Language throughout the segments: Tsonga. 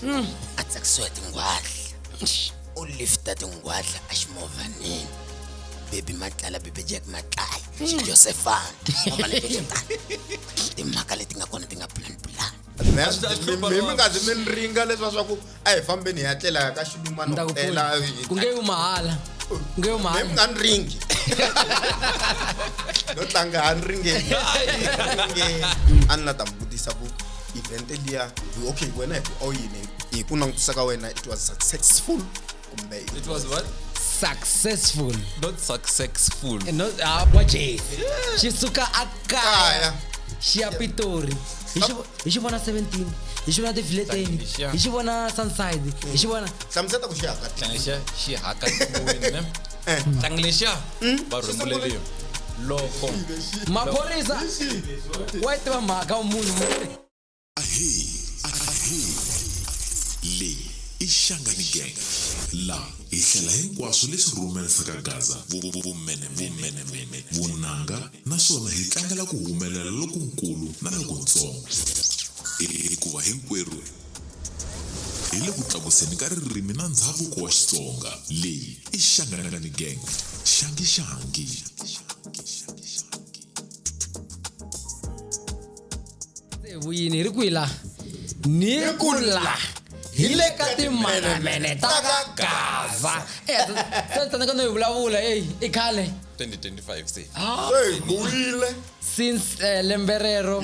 Hmm. a tsakisiwa hi tinghwadla u lifta tinghwadla a ximovhaneni bebi matlala bebe jack matlala hmm. xijosefana timhaka leti nga kona ti nga plan plan mi nga zi mi ringa leswa swa ku a hi fambeni hi ya tlela ka xilumanoela ku nge yu mahala nge yu mahala mi nga ni ringi no tlanga a ni ringeni a ni la ta mi vutisa ku event liya okay wena hi ku oyini hi ku langutisa ka wena it was successful kumbe it was what successful not successful Eh, no ah kwa je xi suka a kaya xi ya pitori hi xi vo- hi xi vona 17 hi xi vona tivileteni Hlanganyisha. hi xi vona sunside hi xi vona hlamuseta ku xiyaka tlanglexa xi haka tiwini ne tlanglexa va rhumbuleliwa loko maphorisa wa yi tiva mhaka wa munhu Ahi, ahi. Leyi i Shangani Gang. La hi hlela hinkwaswo leswi rhumerisaka Gaza, vumene, vumene, vumene, vunanga naswona hi tlangela ku humelela lokunkulu na lokuntsongo. Hikuva hinkwerhu hi le ku tlakuseni ka ririmi na ndzhavuko wa Xitsonga. Leyi i Shangani Gang. Shangi shangi. tsevu yini hi ri kwihi laha ni ku la hi le ka timanamene ta ka gaza eyatsandaka no yi vulavula eyi i khale 2025 se Hey, buyile since eh, lembe rero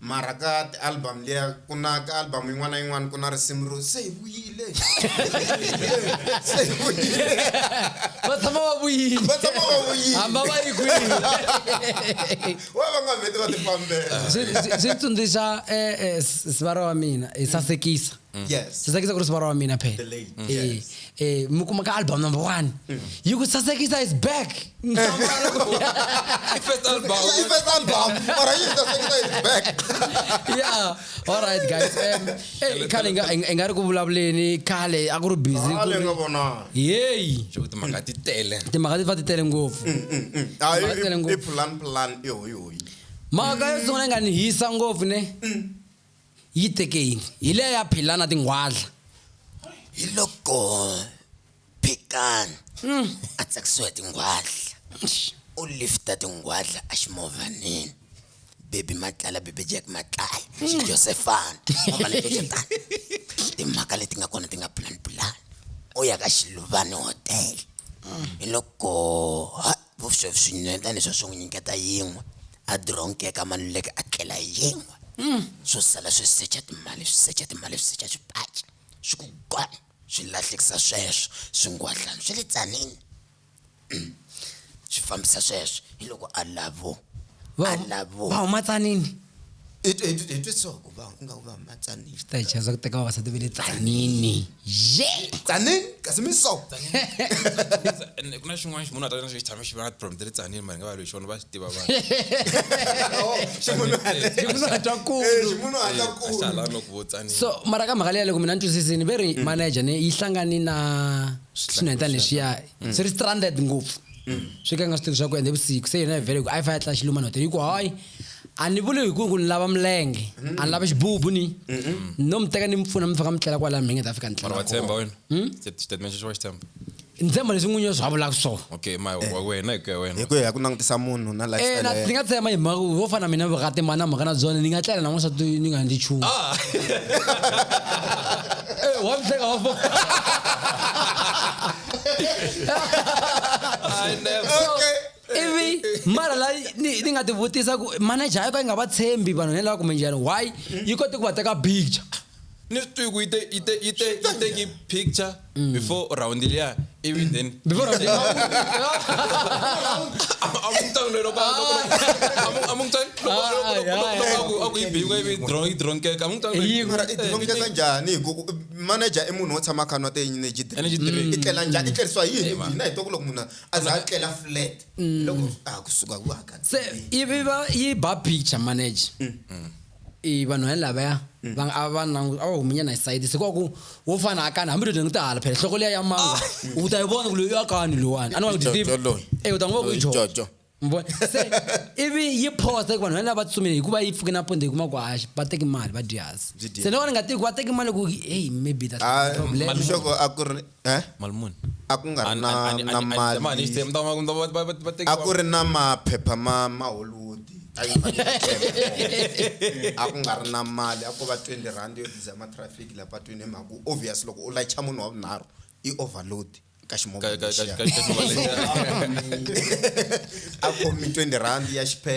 Mara ka ti-album liya ku na ka album yin'wana na yin'wana ku na risimu ro se hi vuyile se hi vuyile va tshama va vuyile va tshama va vuyile hamba va yi kwihi wa va nga vheti va tifambela swi tsundzuxa eh, eh, sivara wa mina hi sasekisa yes sasekisa ku ri sivara wa mina phela Eh, eh, mi kuma ka album number one yi ku sasekisa is back First album. Ila i first album mara yi sasekisa is back yeah all right guys um, eh, khale nga- i nga ri ku vulavuleni khale a ku ri busy ku ale ri- nga vona yeyi Sho kuti mhaka ti tele. timhaka ti fa ti tele ngopfu Ah, Mara tele i- i ngopfu. plan plan i hoyi hoyi mhaka yo sungula yi nga ni hisa ngopfu ne Yi te ke yini? Hi leya ya Phila na tinghwadla. Hi loko Phikani a tsakisiwa hi tinghwadla, u lifta tinghwadla eximovhaneni. Baby Matlala, Baby Jack Matlala, Xijosefana, ximovhana xexo tani. Timhaka leti nga kona ti nga pulani-pulani. U ya ka Xiluvani Hotel. Hi loko ha Vuxovi swi nyuheta leswa swi n'wi nyiketa yin'we, a dironkeka a maluleka a tlela hi yin'we. Swo sala swi secha timali, swi secha timali, swi secha swipaci, swi ku gwan! Swi lahlekisa sweswo swingwadlani swa le tsanini. Swi fambisa sweswo, hiloko a lavo, a lavo. Va huma tsanini. hi twe- hi twe- hi twe so ku va ku nga ku va matsanile ta hi chayisa ku teka vavasati ve le tsanini ye tsanini kasi mi so And ku na xin'wana xi munhu a ta na xi tshame xi va na problem ta le tsanini mara hi nga va loyi xona va swi tiva vanhu ximunhu hatwa kulu ximunhu hatla ku ahlala no ku vo tsanini so mara ka mhaka leya loko mina ni twisisini ve ri manager ni yi hlangani na swinhwetana leswiya swi ri stranded ngopfu swi ka nga swi tivi swa ku ende vusiku se yena vhele ku a yi fa ya tla xilumani hotel yi ku hayi a ni vuli hi ku ku ni lava milenge a ni lava xibubu ni ni no mi teka ni mi pfuna mi fika mi tlela kwalaya mi nge ta fika ni mara wa tlela tshemba wena Hmm? Xi- xitatimende xexi wa xi tshemba ni tshemba leswi n'winyi wa swi vulaka swona okay ma wa wena hi ku ya wena hi ku ya hi ku langutisa munhu na Eh, na- lifestyle ni ya nga tshemba hi mhaka ku vo fana na mina vukati mani na mhaka na byona ni nga tlela na n'wansati ni nga ndzi chumu Ah. Eh, wa mi hleka wa fo- Okay. ivi mara la ni ni nga ti vutisa ku manager yo ka yi nga va tshembi vanhu ne lava kumbe njhani why yi kote ku va teka picture ni swi tivi ku yi te yi te yi te yi teki picture before round liya ivi then Mm. before round liya. amungicanga lelo amungicanga aku yi biwa ivi drone yi drone keka Yi- mara i dilongeka njhani hi ku manager i munhu wo tshama khanwa ti-energy Energy drink. drink i tlela njhani i tlerisiwa yini hina hi twa ku loko munhu a- a za a tlela flat mm. loko a ha kusuka ku haka se yi va yi ba picture manager mm. Mm. i vanhu va lavaya va a va na a va huminyana hi side se kwaku wo fana akani hambi lodeni ku ta hala phela hloko liya ya manga ah. u ta yi vona ku loyi akani lowani a ni va ku deceive e u ta n'wi va ku i jojo mvona se ivi yi posta ku vanhu va lava tsumile hikuva yi pfuke na ponde yi kuma ku hayi va teki mali va dyasi se ni vona nga tiki va teki mali ku hey maybe that's ah, problem a ku ri eh? mali muni a ku nga ri na Ani- ani- na ani- mali mali ni stem- ndama- ndama- ba- ba- ba- teki- a ku ri na maphepha ma ma hollywood a yi nga ri- a ku nga ri na mali a ko va 20 rand yo diza matrafiki la patwini hi mhaka ku obvious loko u layicha munhu wa vunharhu i overload ka ka- ximovha ka- ka- lexiya. ka- ka- ka- a khomi 20 rand ya xiphe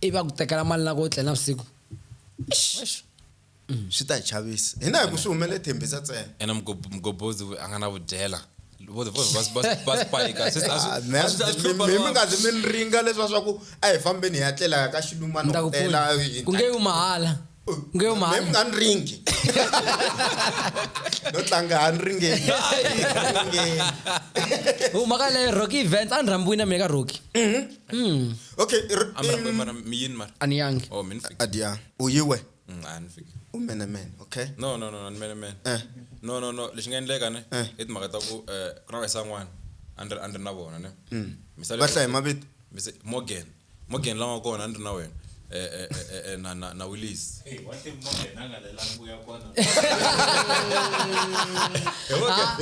ivi a ku tekela mali na ku u tle navusiku Eish. swi ta hi chavisa hina hi ku swi humele thembisa ntsena ene mgob- mgobodzi we- a nga na vudyela Vo- vo- va- va- va spayika Sis, a swi- Ah, me- a swi- a swi mi- hlupha mi- mi lava- nga zi mi ni ringa leswa swa ku a hi fambeni hi ya tlela ka ni ta ku xilumana pfuna ku nge yu mahala ku nge yu mi mahala nga ni ringi no tlanga ha ni ringeni Ringeni. huma ka leyo rocky events a ni rhambiwini na mina ka rocky ok r- Am in- na mi yin mar. An yang. Oh, min fik. adia uyiwe Mm, an fik. umene men okay No, no, no, an mene men. eh No, no, no, lexi nga endleka ne. Eh. I timhaka ta ku eh, ku na vayisa n'wana. A ni ri- a ni ri na vona ne. Mm. Misale- va hlayi mavito Mise- Morgan. Morgan la nga kona a ni ri na wena. Eh, eh, eh, eh, eh, na- na- na Willis.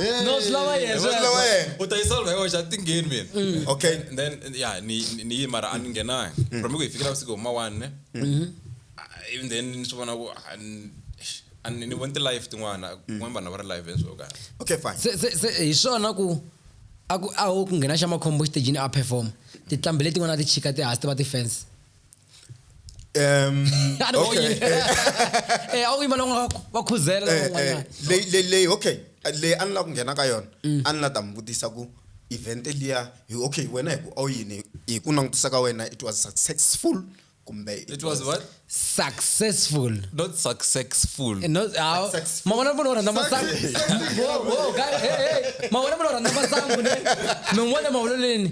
Eh, no swi lava yena swi lava yena u ta yi solve yoxe a tingeni mina mm. okay then ya ni ni yi mara a ni ngenanga mm. from ku hi fikela vusiku huma one mm-hmm. even then ni swi vona ku ani ni voni ti-life tin'wana kun'wana mm. vanhu va ri live enso ka okay fine se se se hi swona ku a ku a ho ku nghena xa makhombo xitejini a perform tinhlambi letin'wana ti chika ti hasi ti va ti-fence um okay eh awu imali wakhuzela eh, eh, le le le okay le a ni la ku nghena ka yona mm. a ni la ta mi vutisa ku event liya hi okay wena hi ku awu yini hi ku langutisa ka wena it was successful kumbe it, it was, was what successful not successful eh, not how mawona mfana oranda masangu whoa whoa guy hey hey mawona mfana oranda masangu ne mengwele mawololeni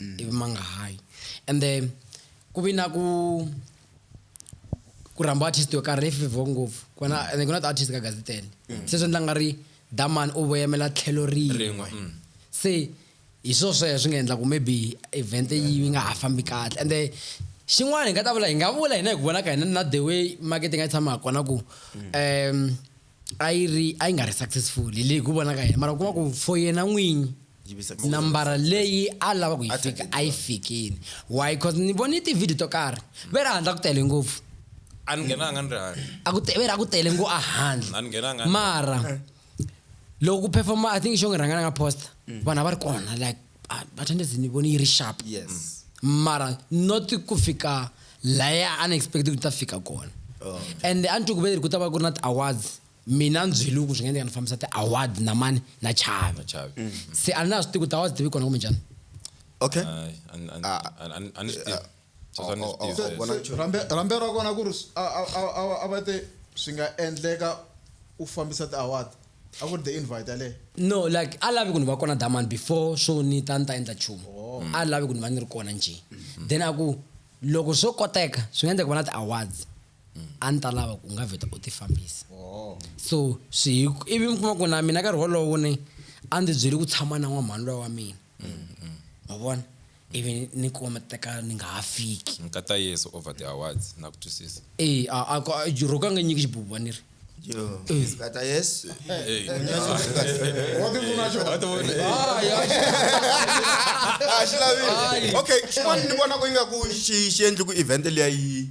mm. ivi ma nga hayi and then ku vi na ku ku rhamba artist yo karhi leyi fevhiwaka ngopfu kona mm. and ku na ti-artist ka gazi tele mm. se swi endla nga ri damani u voyamela tlhelo rin'we mm. se hi swo sweswo swi nga endla ku maybe event yi nga ha fambi kahle and then xin'wana hi nga ta vula hi nga vula hina hi ku vona ka hina na the way marketing a yi tshama ha kona ku um a yi ri a yi nga ri successful hi leyi ku vona ka yena mara u kuma ku for yena n'winyi nambara leyi a lava ku yi fika a yi fikini why because ni vone tivhidiyo to karhi ve ri handla ku tele ngopfu a ni nghenanga ni ri handle a ku ve ri a ku tele ngo a handle a ni nghenanga mara loko ku performa i think xo ngi rhanga ni nga posta vanhu a va ri kona like Ah, but ende ndzi ni vone yi ri sharp yes mara not ku fika laya a ni expect ku ta fika kona Oh. and a ni twi ku ve ri ku ta va ku ri na ti-awards mina ndzweliwe ku swi nga endleka ni fambisa ti-awards na mani na chavi Chavi. Mm. se a na swi tivi ku ti-awards ti vi kona kumbe njhani okay Ay, an- an- Ah. an- an- an- an- Sweswo a ni swi tivi sweswo. Vona nchumu. Rambe rambe ra kona ku ri s- a a a a va- a va te swi nga endleka u fambisa ti award a ku ri the invite yaleyo. No like a lavi ku ni va kona Daman before swo ni ta ni ta endla nchumu. A lavi ku ni va ni ri kona njhe. Then a ku loko swo koteka swi nga endleka ku va na ti awards a ni ta lava ku u nga vheta u ti fambisa. So swi hi ku ivi mi kuma ku na mina nkarhi wolowo ni a ndzi byele ku tshama na n'wamhani luya wa mina. ma vona ivi ni kuma matekano ni nga ha fiki nkata yesu over the awards na ku twisisa e a a ko- a- roko a nga nyiki xibubu vaniri Yo, Sipata yes. What do you want to What do you want? Ah, xi lavile. Okay, xin'wana ni vona ku ingaku xi xi endli ku event liya yi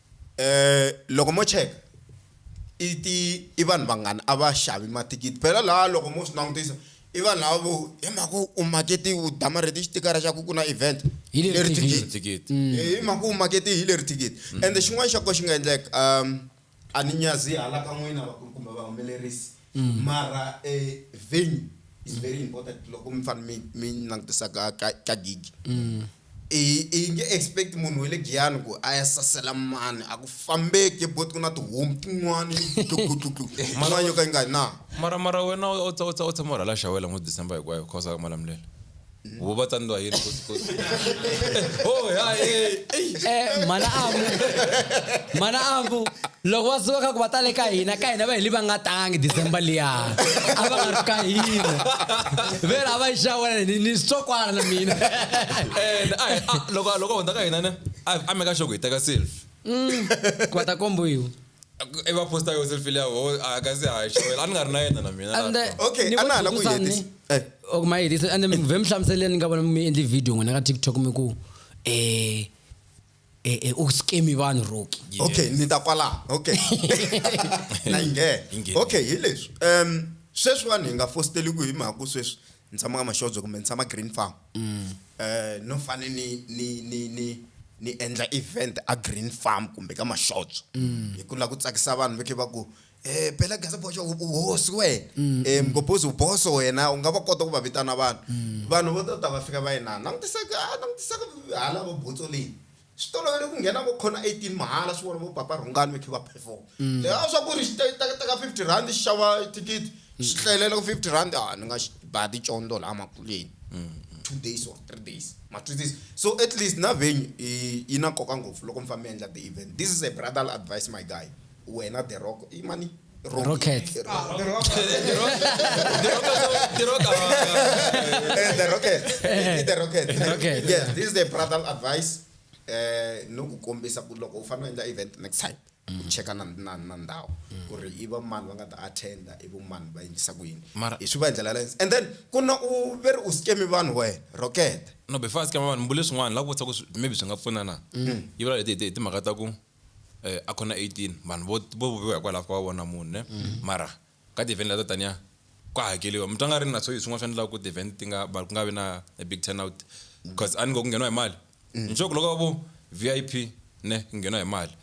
loko mo cheka i ti i vanhu vangani a va xavi mathikithi phela la loko mo swi langutisa i vanhu lava vo hi mhaka ku u makete u damarhete xitikara xa ku ku na event Hi leri leri thikithi. thikithi thikithi Eh, hi mhaka u makete hi leri thikithi ende xin'wana xa ko xi nga endleka um a ni nyazi hala ka n'wina vakulu kumbe vahumelerisi Mara venue is very important loko mi fane mi mi langutisa ka ka ka gig. I i nge expect munhu wa le Giyani ku a ya sasela mani a ku fambeki but ku na tihomu tin'wani tluklutluklu yin'wana yo ka yi nga na. Mara mara wena u tshama u rhwala xawula n'hweti December hinkwayo u kha u sala ku ma lamulela. vo va tsandziwa yini kosikosi oh ya eh, ei Eh, mhana avu mhana avu loko va suka kha ku va tale ka hina ka hina va heli va nga tangi december liya a va nga ri ka hina vela a va yi xawela ni ni switsokwana na mina and a hi- a- loko loko a hundza ka hina ne a a meka xoko hi teka selfie ku va ta kombiwa i va posta yo selfie leya ho a ka se hayi xewela a ni nga ri na yena na mina and laha. Okay, ni a na ha la ku vatsundzuxa hetisa. ni- Eh. ok ma hetisa and then vhe mi hlamuseleni ni nga vona mi endli video n'wina ka tiktok mi ku eh eh eh, u skemi vanhu roki Yeah. okay ni ta kwalaho okay na yi Yi nghena. nghena. okay hi leswi um sweswiwani hi nga fositeliku hi mhaka ku sweswi ni tshama ka maxodzo kumbe ni tshama green farm um no fane ni ni ni ni ni endla event a green farm kumbe ka maxodzo mm. hi ku lava ku tsakisa vanhu va khe va ku um phela gazaboxa uhosi wena um mgobhozi uboso wena u nga va kota ku va vitana vanhu mm. vanhu vo to ta va fika va yinana langutisaka langutisaka hala va botso leyi Swi tolovele ku nghena vo corner 18 mahala swi vona vo Papa Rhungani va khe va perform. Leha a swa ku ri xi ta ta teka 50 rand xi xava thikithi xi tlelela ku 50 rand a ni nga xi ba ticondho laha makuleni. Two days or three days ma twisisa so at least na venue i yi na nkoka ngopfu loko mi famba mi endla ti event this is a brotherly advice my guy wena The Rock i mani? Rocket. The Rocket. The Rocket. Rocket. Yes, this is the brother advice. Eh, no ku kombisa ku loko u fanele endla event next time u cheka na na na ndhawu ku ri i va mani va nga ta attenda i vo mani va endlisa ku yini Mara- hi swi va hi ndlela leyo and then ku na u ve ri u scame vanhu wena rocket no before a scam vanhu mbule swin'wana la ku vutisa ku swi- maybe swi nga pfuna na yi vula leti hi ti- hi timhaka ta ku eh, a khona 18 vanhu vo vo vuviwa hikwalaho ka va vona munhu ne mara ka ti-event leto taniya ku hakeliwa mi twa nga ri na swo hi swin'wana swi endlaka ku ti-event ti nga va ku nga vi na a big turnout because a ni ngo ku ngheniwa hi mali ni sure ku loko va vo VIP ne ku ngheniwa hi mali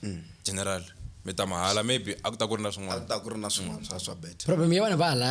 general mi ta mahala maybe a ku ta ku ri na a swin'wana ku ta ku ri na swin'wana swa swa bet problem ya vanhu va hala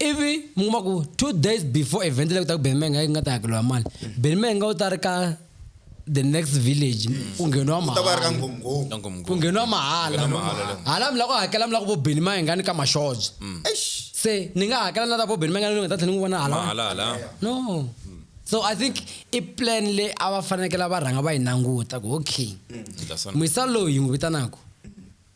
ivi mi kuma ku two days before event leyi ku ta ku benimenge a yi nga ta hakeriwa mali benimenge u ta ri ka the next village ku ngheniwa u ta va ri ka mahala nghonghongo Ka ngomngoma. ku ngheniwa mahala Ngheniwa mahala le. hala mi la ku hakela mi la ku vo beni mayengani ka maxoja Eish. se ni nga hakela na ta vo beni mayengani ni nga ta tlhela ni n'wi vona hala mahala hala no so i think i plan leyi a va fanekele va rhanga va yi languta ku okay Ndla sana. muyisa loyi hi n'wi vitanaka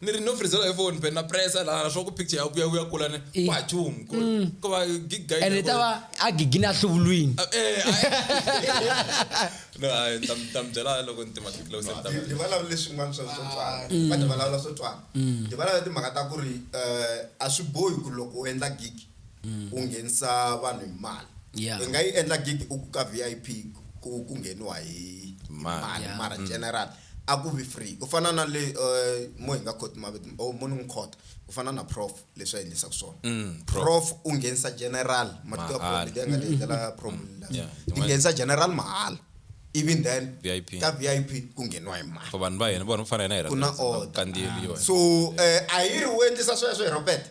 ni ri no frizela hi phone phela na pressa la swa ku picture ya ku ya ku ya kula ni Eh. wa chum ko Mm. ko va gig guy ene ta va a gigini a hluvulwini eh no ai tam tam byela loko ni tima ti close ta Hi- hi vulavula leswin'wana swa swo twana Mm. va ti vulavula swo twana Mm. hi vulavula timhaka ta ku ri um a swi bohi ku loko u endla gig u nghenisa vanhu hi mali Mm. Yeah. i nga yi endla gig u ku ka vip ku ku ngheniwa hi hi mali Yeah. mara Mm. general A ku vi free ku fana na le mo hi nga khoti mavito or mo ni n'wi khota ku fana na prof leswi a endlisaku swona prof u nghenisa general ma ti tiva prof leti a nga ti endlela prof ti nghenisa general mahala ivi then ka vip ku ngheniwa hi mali ku na order so a hi ri u endlisa sweswo hi ropeta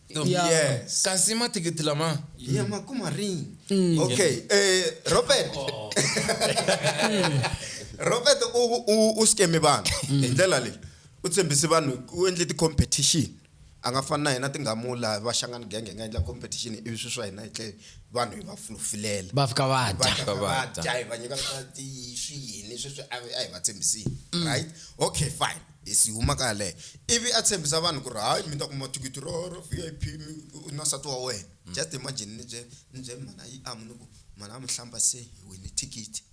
No. ya Yes. kazima thikithi lama ya makuma rini Mm. okay eh robert Oh. robert u u u scam vanhu Mm. hi ndlela leyi u tshembise vanhu u endle ti-competition a nga fani na hina tingamula va xangani genge hi nga endla competition ivi swi swa hina hi tle vanhu hi va fulufulela va fika va dya va dya. vadya hi va nyika swa ti swiyini sweswi a a hi va tshembisile right okay fine Hesi huma ka yaleyo. Ivi a tshembisa vanhu ku ri, Hayi, mi ta kuma thikithi ro, ro VIP, mi, u, u na nsati wa wena. Just imagine ni bye, ni bye mhana Iamu ni ku, Mhana Iamu, hlamba se hi wine thikithi.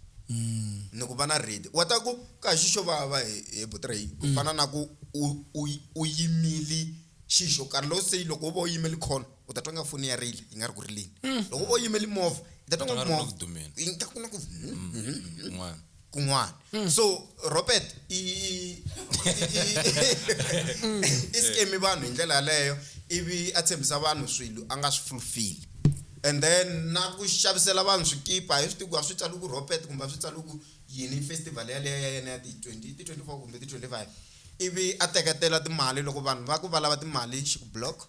Ni ku va na ready. Wa ta ku, Ka hi xi xo vava, he, he buti Ray, ku fana na ku u, u, u yimile xi xo karhi. Lo say, loko wo va u yimele call, u ta twa ingaku foni ya rila, yi nga ri ku rileni. Loko wo va u yimele movha, i ta twa ingaku movha, yi nga ri ku na ku, Hum, hum, hum, hum. kun'wana mm. so robert i i scame vanhu hi ndlela yaleyo ivi a tshembisa vanhu swilo a nga swi fulfili and then na ku xavisela vanhu swikipa hi swi tiku a swi tsali ku robert kumbe a swi tsali ku yini festival yaleyo ya yena ya ti-twenty ti-twenty four kumbe ti-twenty five ivi a teketela timali loko vanhu va ku va lava timali xi ku block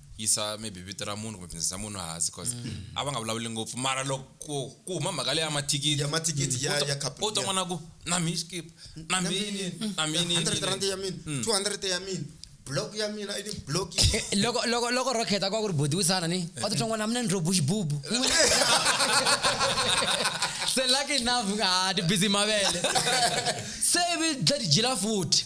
yisa maybe vito ra munhu kumbe business ya munhu hansi cause mm. a va nga vulavuli ngopfu mara loko ku huma mhaka leyi ya mathikithi ya mathikithi ya ya couple u ta n'wana ku na mi skip na mini na mini 100 rand ya mina 200 mm. ya mina block ya mina i block eh, loko loko loko rocket akwa ku ri body wisana ni wa ti tlangwa na mina ndro bush bubu se lucky enough ah ti busy mavele se vi dla dijila futhi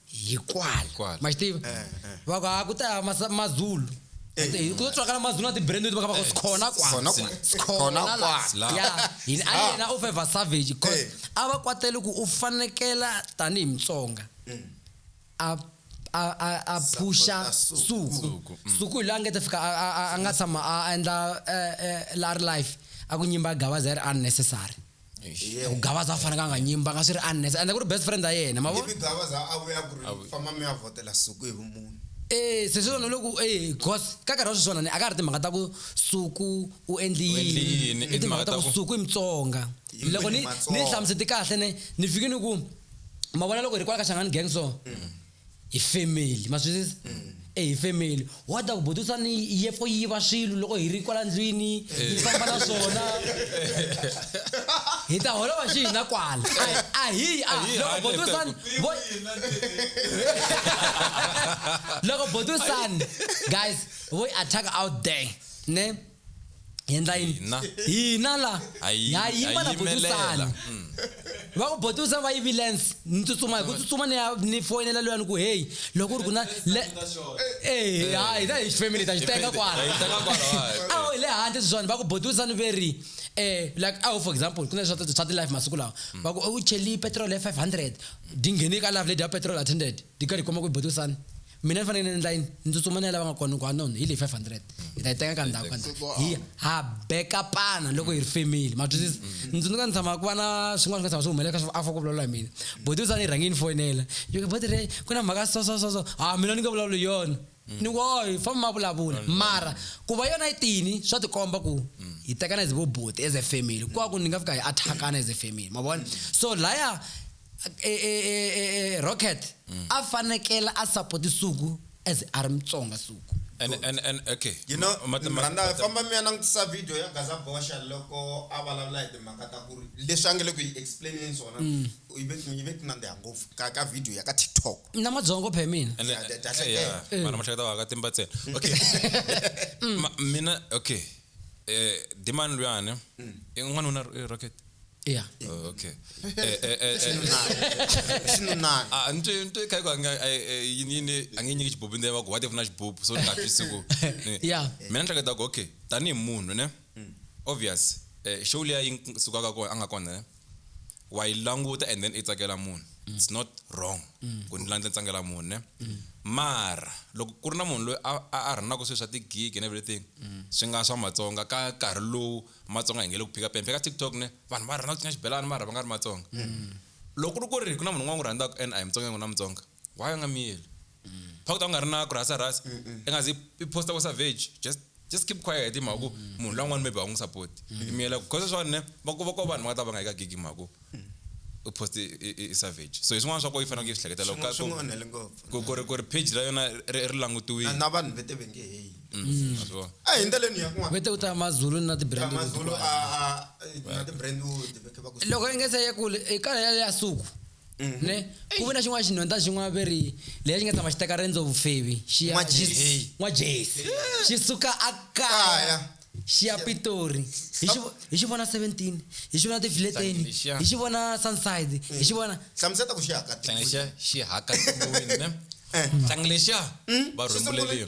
hikwala Hikwala. ma xi tiva Eh, eh. va ku ha ku ta ya masa- mazulu Ende hi ku tswakala mazulu na ti-brand leti va ka va ku sikhona Khona kwala kwa- khona sikhona la kwala. La. ya yini a yena u favor savage cause Eh. a va kwatele ku u fanekela tanihi mutsonga a a a a phusha Mm. Support-a suku Suku, mm. suku hi loyi a nga ta fika a- a- a- a nga tshama a endla eh, eh, la ri life a ku nyimba gavaza ya ri unnecessary Yeah. ku gavaza a fanekanga a nyimba nga swi ri unnes ende ku ri best friend ya yena ma vona ivi gavaza a vuya ku ri famba mi ya vhotela suku hi vumunhu Eh, se swi vona loko eh cause ka nkarhi wa sweswiwana ni a ka ha ri timhaka ta ku suku u endli U endli yini, yini i timhaka ta ku suku i mutsonga Yini loko ni ni Matsonga? hlamusete kahle ne ni fike ni ku ma vona loko hi ri kwala ka xangani gang so hi family ma swi twisisa mm. e hi family wa ta ku butusa ni ye fo yiva swilo loko hi ri kwala ndlwini yi eh. famba na swona hi ta holova xi hina kwala a hi a loko butusani loko butusani guys voy attack out there ne hi endla yini Hina. hina la Ha yi- ha yima ha na yimelela. botusani Mm. va ku botusani va yivilence ni tsutsuma hi ku tsutsuma ni ya ni foyinela loyani ku heyi loko ku ri ku na le Eh, ha hina hi family ta xi teka kwala Hi teka kwala, wa- awu hi le handle swiswani va ku botusani ve ri eh like awu for example ku na swa swa ti-life masiku lawa va ku u cheli petrol ya 500 di nghene ka life lady ya petrol attended di karhi yi kuma ku botusani mina ni fanekele ni endla yini ni tsutsuma ni ya lava nga kona ni ku anon hi leyi 500 hi ta yi teka ka ndhawu ka ndhawu hi ha bekapana loko hi ri family ma twisisa ni tsundzuka ni tshama ku va na swin'wana swi nga tshama swi humelela ka swi afa ku vulavula hi mina boti u tshama ni rhangi ni foyinela yo ke boti re ku na mhaka so so so so ha mina ni nge vulavuli hi yona ni ku oy famba ma vulavula mara ku va yona yi tini swa tikomba ku hi tekana as vo boti as a family kwaku ni nga fika hi attack-ana as a family ma vona so laya e, e, e, rocket mm. a fanekele a support suku as a ri mutsonga suku and and and okay you know mranda famba mi ya langutisa video ya gaza bosha loko a vulavula hi timhaka ta ku ri leswi a nge le ku yi explaineni swona mm. yi ve ti nandziha ngopfu ka ka video ya ka tiktok na madzongo phe mina eh, eh, eh. vana mahleketa wa ka timba ntsena okay mm. mina okay eh, dimani luyani Eh, n'wanuna eh, rocket ya Oh, okay Eh, eh, eh, eh. xinunani Ah, ni twe- ni twe khayi ku a nga- eh, eh, yini yini a nge nyiki xibubu ndzi va ku what if na xibubu so ni nga twisi ku ni- ya mina ni hleketa ku okay tanihi munhu ne obvious eh, show liya yi sukaka kona a nga kona ne wa yi languta and then i tsakela munhu it's not wrong ku ni languta ni tsakela munhu ne mara loko ku ri na munhu loyi a a- a rhanaka swilo swa tigigi and everything swi nga swa matsonga ka nkarhi lowu matsonga hi nge le ku phika pembe ka tiktok ne vanhu va rhandza ku cina xibelani mara va nga ri matsonga loko ku ri ku ri ku na munhu un'wana n'wi rhandzaka and a hi mutsonga n'wina mutsonga why u nga miyeli pha ku ta ku nga ri na ku rhasa rhasa i nga zi i posta ku savage just just keep quiet hi mhaka ku munhu loyi un'wana maybe a wu n'wi support i miyela ku cause swani ne va ku va ko vanhu va nga ta va nga yi ka gig hi mhaka ku u poste i- i- i savage so hi swin'wana swa ko yi faneleke yi swi hleketela loko ka- swi n'wi onhele ngopfu ku ku ri ku ri page ra yona ri ri langutiwile na vanhu vete va nge heyi Mm, a swi vona. a hi ndleleni ya kun'wana vete ku ta mazulu na ti-brand leti mazulu kulu. a a- na ti-brandwood veke va ku loko i nga se ya kule i kala ya ya suku mhm. ne ku ve na xin'wana xinhonta xin'wana ve ri lexi nga tshama xi teka rendzo vufevi xi ya n'wa jesi xi suka a kaya xi ya pitori hi xi vona seventeen hi xi vona tifileteni hi xi vona sunside hi xi vona hlamuseta ku xi haka xi haka ne eh. tlangile xa va rhumbuleliyo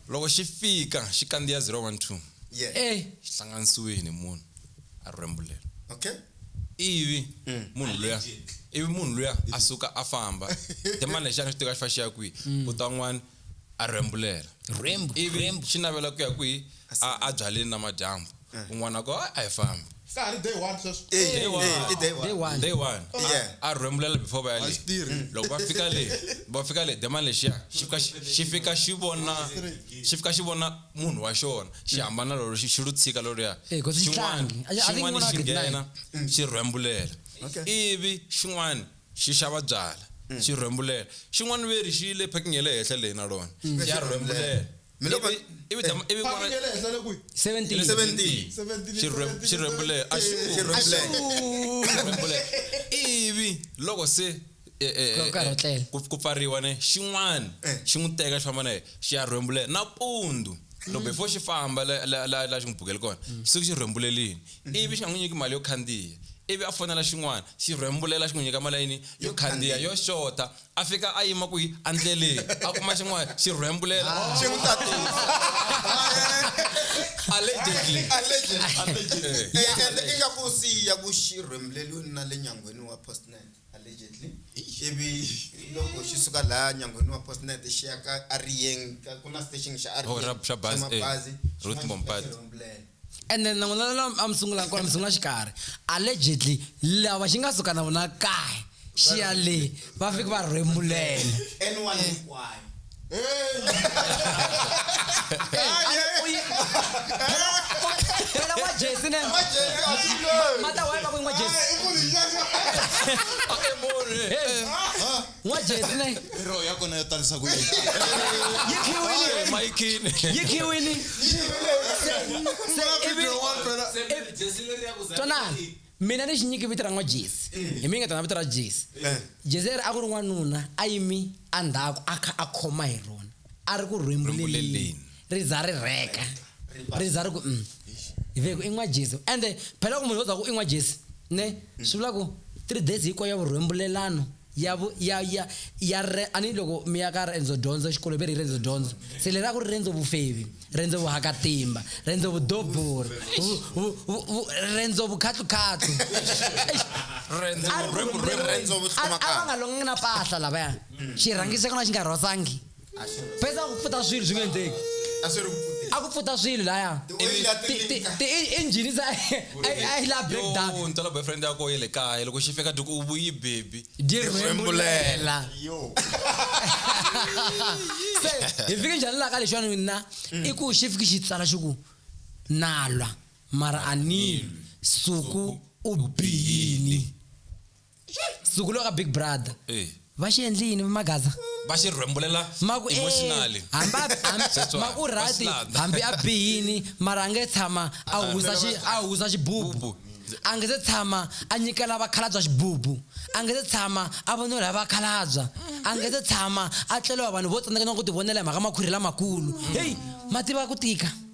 Loko xi fika xi kandziya 012 Yeah. e xi hlanganisiwile ni munhu a rhwembulela. Okay. Ivi munhu luya ivi munhu luya a suka a famba. Demon lexi a nga xi teka xi fa xi ya kwihi? Ku ta un'wana a rhwembulela. Rhwembu, ivi rhwembu. xi navela ku ya kwihi? A a byaleni namadyambu. eh. un'wana ko a hi fambi ka ha ri day one sweswo eh, day one eh, day one day one yeah a rhembulela before va ya le mm. loko va fika le va fika le dema lexiya xi fika xi fika xi vona xi fika xi vona munhu wa xona xi hambana lolo xi lu tshika loluya eh, xin'wana xin'wana xi nghena mm. xi rhembulela ivi xin'wana xi xava byala mm. xi rhembulela xin'wana veri xi le packing ya le henhla leyi na lona ya rhembulela mi loko Ivi- ivi jama- ivi Paki n'wana- nge le henhla le kwihi? 17 17 17, Xirhwe- xirhwembule a xi- Eh, xirhwembule. xirhwembule ivi loko se eh, eh, Ku karhatlela. eh, ku- ku pfariwa ne xin'wana Eh. xi n'wi teka xi famba na yena xi ya rhwembule nampundzu loko before xi famba la- la la- la xi n'wi bukele kona xi suke xi rhwembulelini ivi xi nga n'wi nyiki mali yo khandziya ivi a fonela xin'wana xi rhwembulela xi n'wi nyika mali ya yini yo khandziya yo xota a fika a yima kwihi endleleni a kuma xin'wana xi rhwembulela xi n'wi tatisa allegedly allegedly Eh, and i nga ku siya ku xi rhwembuleliweni na le nyangweni wa postnet allegedly ivi loko xi suka laha nyangweni wa postnet xi ya ka ariyeng ka- ku na station xa Oh, ra- xa bazi, eh. mabazi Ruth Mompati. ene na n'wina la a mi sungula kona mi sungula xikarhi allegedly lava xi nga suka na vona kae xi ya le va fike va rhembulela anyone hinkwayo phela wa jesi ne mata wa va ku n'wa jesi N'wa Jesi ne. Roho ya kona yo tarisa ku yini? Yi khiwini. Hey, Maikini. Yi khiwini. Twanani. Mina ni xi nyiki vito ra n'wa Jesi. Hi mi ngetana vito ra Jesi. Eh. Jesi leri a ku ri n'wanuna a yimi a ndhaku a kha a khoma hi rona. A ri ku rhwembuleleni. ri za ri rheka ri za ri ku mm. ve ku i n'wa jesu ende phela ku munhu wo za ku i n'wa jesu ne mm. swi vula ku three days hinkwayo ya vurhembulelano ya ya ya ya re ani loko mi ya ka rendzo dyondzo xikolo ve ri rendzo dyondzo se leri a ku ri rendzo vufevi rendzo vuhakatimba rendzo vudobori rendzo vukhahlukhahlu a va nga longangi na pahla lavaya xirhangiso xi nga rhosangi pesa kupfuta swilo swi nga endleki a swi ri ku pfuteni. a ku pfuta swilo laya The way la Ti- ti- tilinka. ti- i- injhini se a yi- a yi la breakdown Yo, ntsala boyfriend yako ye le kaya loko xi fika duku u vuyi baby dirhembulela Yo. se hi fike njhani laha ka lexiwani mina Mm. i ku xi fike xi tsala xi ku nalwa mara a nilwi suku u biyini suku loko ka big brother Eh. va xi endli yini magaza va xi rhwembulela maku eh, emotionally hambi a- hambi- That's why. maku Va rati slanda. hambi a bihini mara a nge tshama a husa xi- a husa xibubu Bubu. a nge se tshama a nyikela vakhalabya xibubu a nge se tshama a vonela hi vakhalabya a nge se tshama a tleliwa vanhu vo tsandzeka na ku tivonela hi mhaka makhwiri lamakulu heyi ma tiva ku tika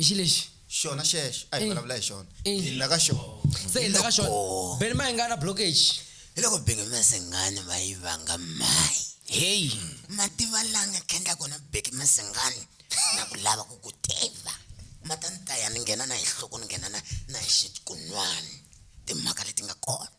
i xi lexi xona xexo a hi Eh. vulavula hi xona Eh. hi la ka xona se hi la ka xona Loko- beni ma hi nga na blockage hi loko beke masengani va yi vanga mayi heyi mativa la nga khendla kona beke masengani na ku lava ku ku tiva ma ta ni taya ni nghena na hi nhloko ni nghena na na hi xikunwani timhaka leti nga kona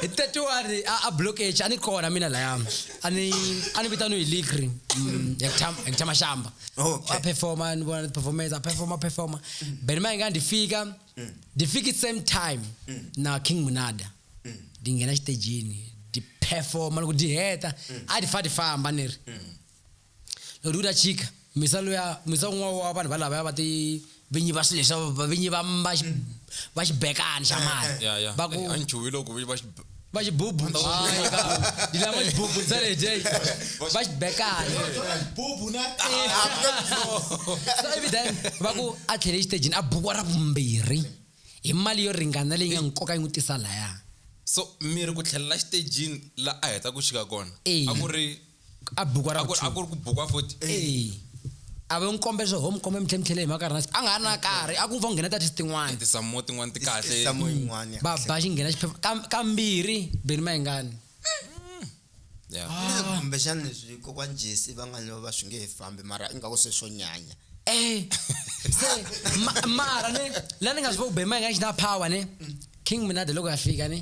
hi tatiwani a a blockage a ni kona mina laya a ni a ni vitaniwe hi ligri mm, ya Kutham- ya kuthama xamba Okay. a performa ni vona performance a performa performa beni ma inga ndi fika ndi fika it same time na king munada ndi nghena xitejini ndi performa loko ndi heta a ndi fa ndi famba ni ri Ri vula tshika misa luya misa un'wana wa vanhu va lavaya va ti vinyi va swilo leswa vavinyi va va va xibekani xa mali ya ya va ku a ni chuhi loko vinyi va va xibubu ni lava xibubu ntsena hi day va xibekani bubu na so every time va ku a tlhele exitejini a bukiwa ra vumbirhi hi mali yo ringana leyi nga nkoka yi n'wi tisa laya so miri ku tlhelela xitejini la a heta ku xika kona a ku ri a bukwa ra a ku ri ku bukwa futhi eh a va n'wi kombe swo ho mi kombe mi tlhemtlhele hi mhaka rina a nga ha na karhi a ku pfa ku nghena tati tin'wana tisamo tin'wana ti kahle ba ba xi nghena xiphefo kambirhi beni ma yingani kumbexana leswi kokwana jesi va nga va swi nge he fambi mara ingaku se swo nyanya eh se mara ne la ni nga swi vo ku beni ma yingani xi na power ne king minade loko ya fika ne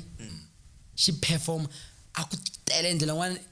xi performa a ku tele ndlela n'wana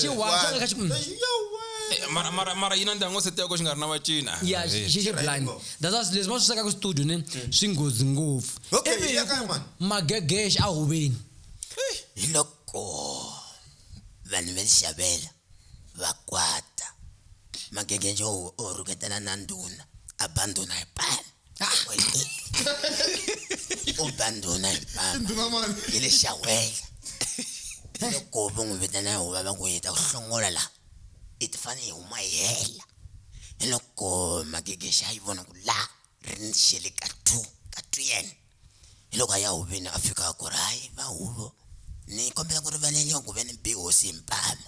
xi hwatsa ka xi mm. eh, mara mara mara yi na ndyangu se teko xi nga ri na vacina ya xi xi blind that's why leswi va swi swekaka studio ni mm. swi nghozi ngopfu ivi magegexe a huveni eh. hi loko vanhu va xavela va kwata magegexe o rhuketana na ndhuna abandona hi pala u ba ndhuna hi papa ndhuna mani hi le xawela loko va n'wi vitana huva va ku yita ku hlongola la i ti fane hi huma hi hela hi loko magigexa yi vona ku la ri ni xele ka two ka two yena Hi loko a ya huvini a fika a ku ri hayi va huvo ni kombela ku rivaleliwa ku ve ni bi hosi hi mpama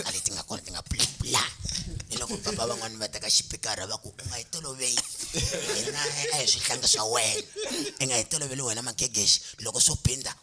a leti nga kona ti nga pulapula hi loko papa van'wani va teka xipikara va ku u nga yi toloveli hina a hi swihlanga swa wena i nga yi toloveli wena magegexi loko swo binda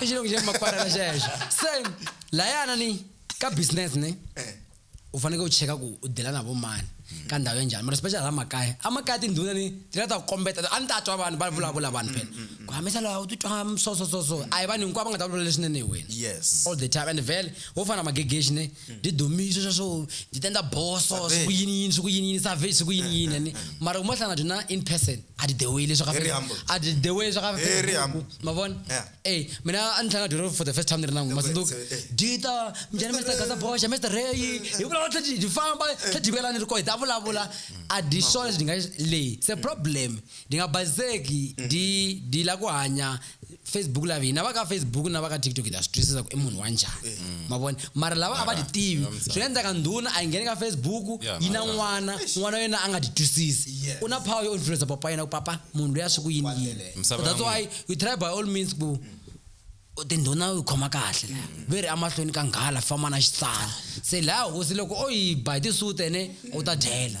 chilongo cha mapatala chayacho same layana ni ka business ne Eh. u faneke u cheka ku u dela na vo mani ka ndhawu ya njhani mara special la makaya amakaya tindhuna ni ti la ta ku kombeta a ni ta twa vanhu va vulavula vanhu phela ku hambisa lawa u titwa so so so so a hi vanhu hinkwavo va nga ta vulavula leswinene hi wena yes all the time and vele wo fana magegexi ne ndidhumiswe swa swo ndzi ta endla boso Survey. swi ku yini yini swi ku yini yini survey swi ku yini yini and mara ku mahlangana byo na in person a ti the way leswi ka Very Facebook. humble. a ti the way leswi ka Very Facebook. humble. ma vona Yeah. eh mina a ni tlanga doro for the first time ni ri na n'wi ma tsundzuka Eh, eh. dita mjani mr gaza boxa mr ray hi vulavula tlhe hi famba tlhe jikelani ri ko hi ta vulavula a di swona leswi ni nga leyi se problem ndi nga bazeki ndi ndi la ku hanya facebook live hina va ka facebook na va ka tiktok hi ta swi twisisa ku i munhu wa njhani eh. mm. mavona mara lava a va ti tivi swi nga endleka ndhuna a yi ngheni ka facebook yi na n'wana n'wana wa yena a nga ti twisisi u na power yo influensa papa yena ku papa munhu loyi a swi ku yini yini that's why we try by all means ku tindhuna u khoma kahle mm. ve ri emahlweni ka nghala famba na xitsana se laha hosi loko o yi ba hi tisute ne u ta dyela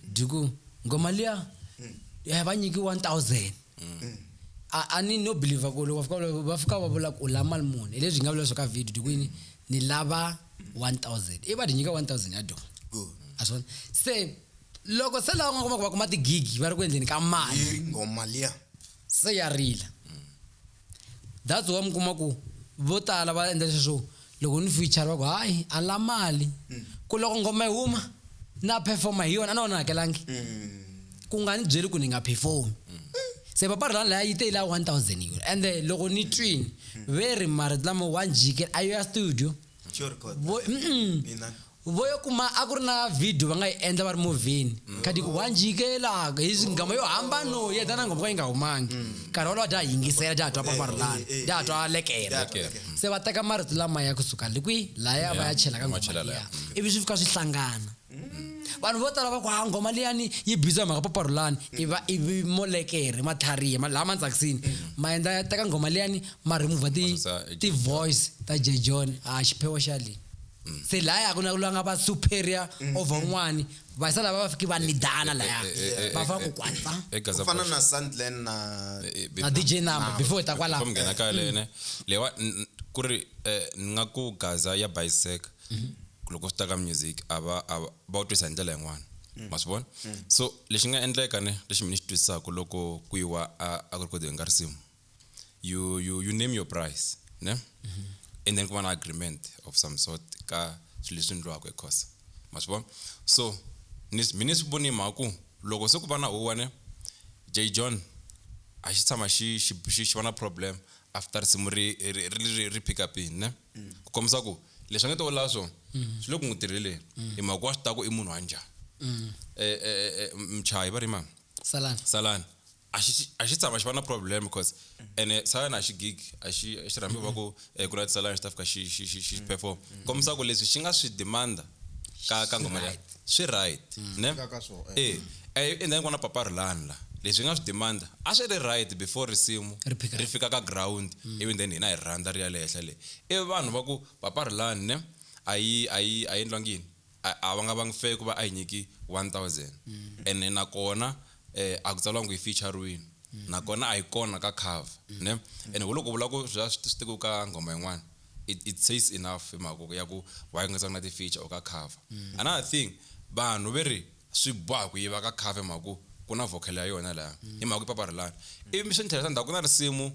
byi ku ngo mali ya ya va nyiki 1000 a a ni no believe ku loko va fika va- va fika va vula ku u la mali muni hi leswi hi nga vula swo ka video byi ku yini ni lava 1000 i va ti nyika 1000 ya dyona Good. a swi vona se loko se lava nga kuma ku va kuma tigigi va ri ku endleni ka mali Yeri ngoma liya se ya rila That's why mi kuma ku vo tala va endla leswi swo loko ni feature va ku hayi a ni la mali ku loko nghoma yi huma na performa hi yona a no va ni hakelangi ku nga ni byeli ku ni nga perform se papa rilani laya yi te yi la 1000 euro ende loko ni twini ve ri marito lama wa njhikela a yo ya studio Xo record. vo mm-mm. Mina. vo yo kuma a ku ri na video va nga yi endla va ri movheni mm. khadi ku wa njikelaka hi nghoma yo hambano yi heta na nghoma ka yi nga humangi mm. nkarhi wolowo dya ha yingisela dya ha twa pamarulana eh, eh, eh, dya ha twa lekela mm. se va teka marito lama ya kusuka le kwihi laya va ya chela ka nghoma liya ivi swi fika swi hlangana vanhu vo tala va ku ha ah, nghoma liyani yi biza hi mhaka paparulani iva ivi molekere matlharihe laha ma tsakisini ma endla ya teka nghoma liyani ma remova ti-voice ta jejon a ah, xiphewo xa leyi mm. se laya ku na ku langa va superior mm, over un'wani mm. vasa lava va fiki va nidana eh, eh, laya eh, va fa ku kwata ku fana na sandland na na dj number before ta kwala ku nghena ka lene lewa ku ri ni nga ku gaza ya bisec mm-hmm. loko swi ta ka music a va va u twisa hi ndlela yin'wana Mm. ma swi vona mm. so lexi nga endleka ne lexi mina xi twisisaka loko ku yiwa a ku ri kodeni ka risimu you, you, you name your price ne and then ku va na agreement of some sort ka swilo leswi endliwaka ekhosa ma swi vona so ni mi ni swi voni mhaka ku loko se ku va na huwa ne j john a xi tshama xi xi xi xi va na problem after risimu ri ri ri ri- ri pick up in ne ku kombisa ku leswi a nge to vulava swona swi le ku n'wi tirheleni hi mhaka ku wa swi tiva ku i munhu wa njhani Eh, eh, eh, eh, mchayi va ri mani salani salani a xi tshama xi va na problem because ene sa wena a xi gig a xi a xi rhambi va ku eh, ku na tisalana xi ta fika xi xi xi xi perform kombisa ku leswi xi nga swi demanda ka ka ngoma leyi swi right mm. ne ka swo eh. eh eh endla ngwana papa rilani la leswi nga swi demanda a swi ri right before risimu ri fika ka ground mm. even then hina hi rhandza ri ya le henhla le ivi vanhu va ku papa rilani ne a yi a yi a yi endlwangi yini a a va nga vangi fair ku va a hi nyiki 1000 ene nakona eh, a ku tsaliwanga ku yi featurerini nakona a yi kona ka cover ne ene hi loko u vula ku swi va swi swi tekiwe ka nghoma yin'wana it, it says enough hi mhaka ku- ya ku why ku nga tsanga na ti-feature or ka cover another thing vanhu ve ri swi boha ku yiva ka cover hi mhaka ku ku na vocal ya yona laya hi mhaka ku papa ri lani ivi swi ni tlherisa ndzhaku ku na risimu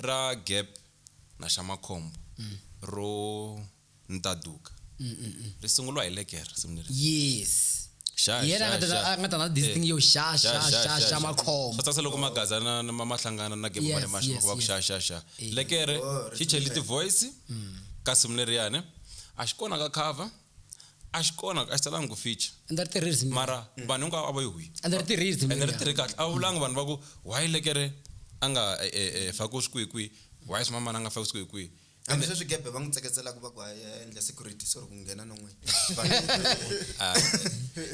ra gap na xa makhombo ro ni ta duka ri sunguriwa hi leke risimu leri yes Xa, hi yena a xa, nga ta- xa. a nga ta na this Eh. thing yo xa xa Xa, xa, xa xa, xa xa. makhombo swa tsakisa loko magaza na na- ma ma hlangana na game Yes, mane maxa yes, va ku yes. xa xa xa Eh. lekere Oh, xi cheli ripfumelo. ti-voice ka simu leriyani a xi kona ka cover a xi kona a xi talangi ku feature a ndzi ri tirhi risimu mara vanhu hinkwavo a va yi hwi a ndzi ri tirhi risimu ene ri leriya. tirhe kahle a vulanga vanhu va ku why lekere a nga eh, eh, eh, fakiwi swikwikwi why swimamana a nga fakiwi swikwikwi kambe sweswi gebe va n'wi tseketselaka va ku a ya endla security sorry ku nghena no n'wini ah,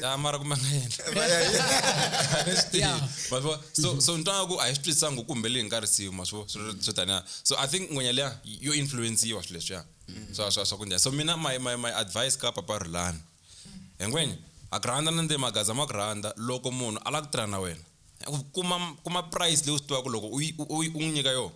ya mara kumbe nga endlamaswivo so mhm. so ntwa ku a hi swi twisisanga ku kumbe leyi nga risiwi ma swivo swo taniya so i think n'wenya liya yo influenciwa swilo leswiya mhm. swa swa swa ku njhani so mina my my my advice ka papa rulani hi ngwenya a ku rhandza na nde magaza ma ku rhandza loko munhu a lava ku tirha na wena kuma kuma price leyi u swi tivaka loko u n'wi nyika yona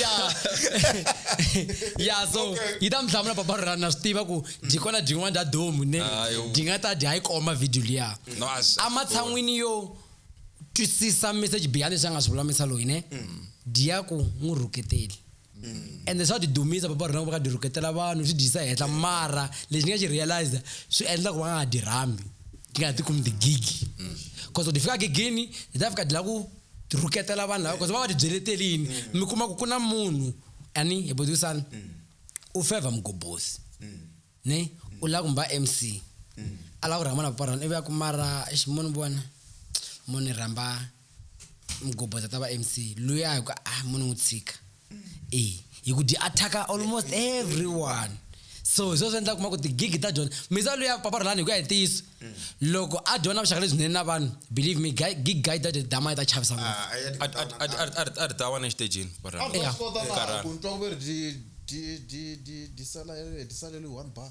ya ya so yi ta mi hlamula papa rona na swi tiva ku byi kona byin'wana bya domu ne byi nga ta dya yi koma video liya ematshan'wini yo twisisa message beyond leswi a nga swi vulamisa loyi ne mm. dya ku n'wi rhuketeli mm. ende swa ti dumisa papa rona ku va ka dyi rhuketela vanhu swi dyisa henhla mm. mara lexi ni nga xi realize swi endla ku va nga ha dyi rhambi ti nga ha ti kumi tigigi cause loko ti fika gigini ti ta fika dyi la ku ti rhuketela vanhu lava koze va va tibyeleteli yini mm. mi kuma ku ku na munhu ani hi butisana mm. u favor mugobhosi mm. ne mm. u lava ku mba mc mm. a lava ku rhamba na paparana ivi ya ku mara ximoni vona munhu ni rhamba mugobhosi a ta va mc luya hi ku ah munhu n'wi tshika e hi ku dyi attack-a almost everyone so hi swo swi endla kuma ku tigigi ta dyona misa luya paparhelani hi ku ya hi ntiyiso loko a dyona vuxaka lebyinene na vanhu believe me gig guy that dama yi ta chavisa ngopfu Ah, a ya ti- a ri- a ri- a ri- a ri ta wa na exitejini A barhana Yeah. swi kota na Karhala. ku ni twa ku ve ri di- di- di- di- di sala- di saleriwe one bar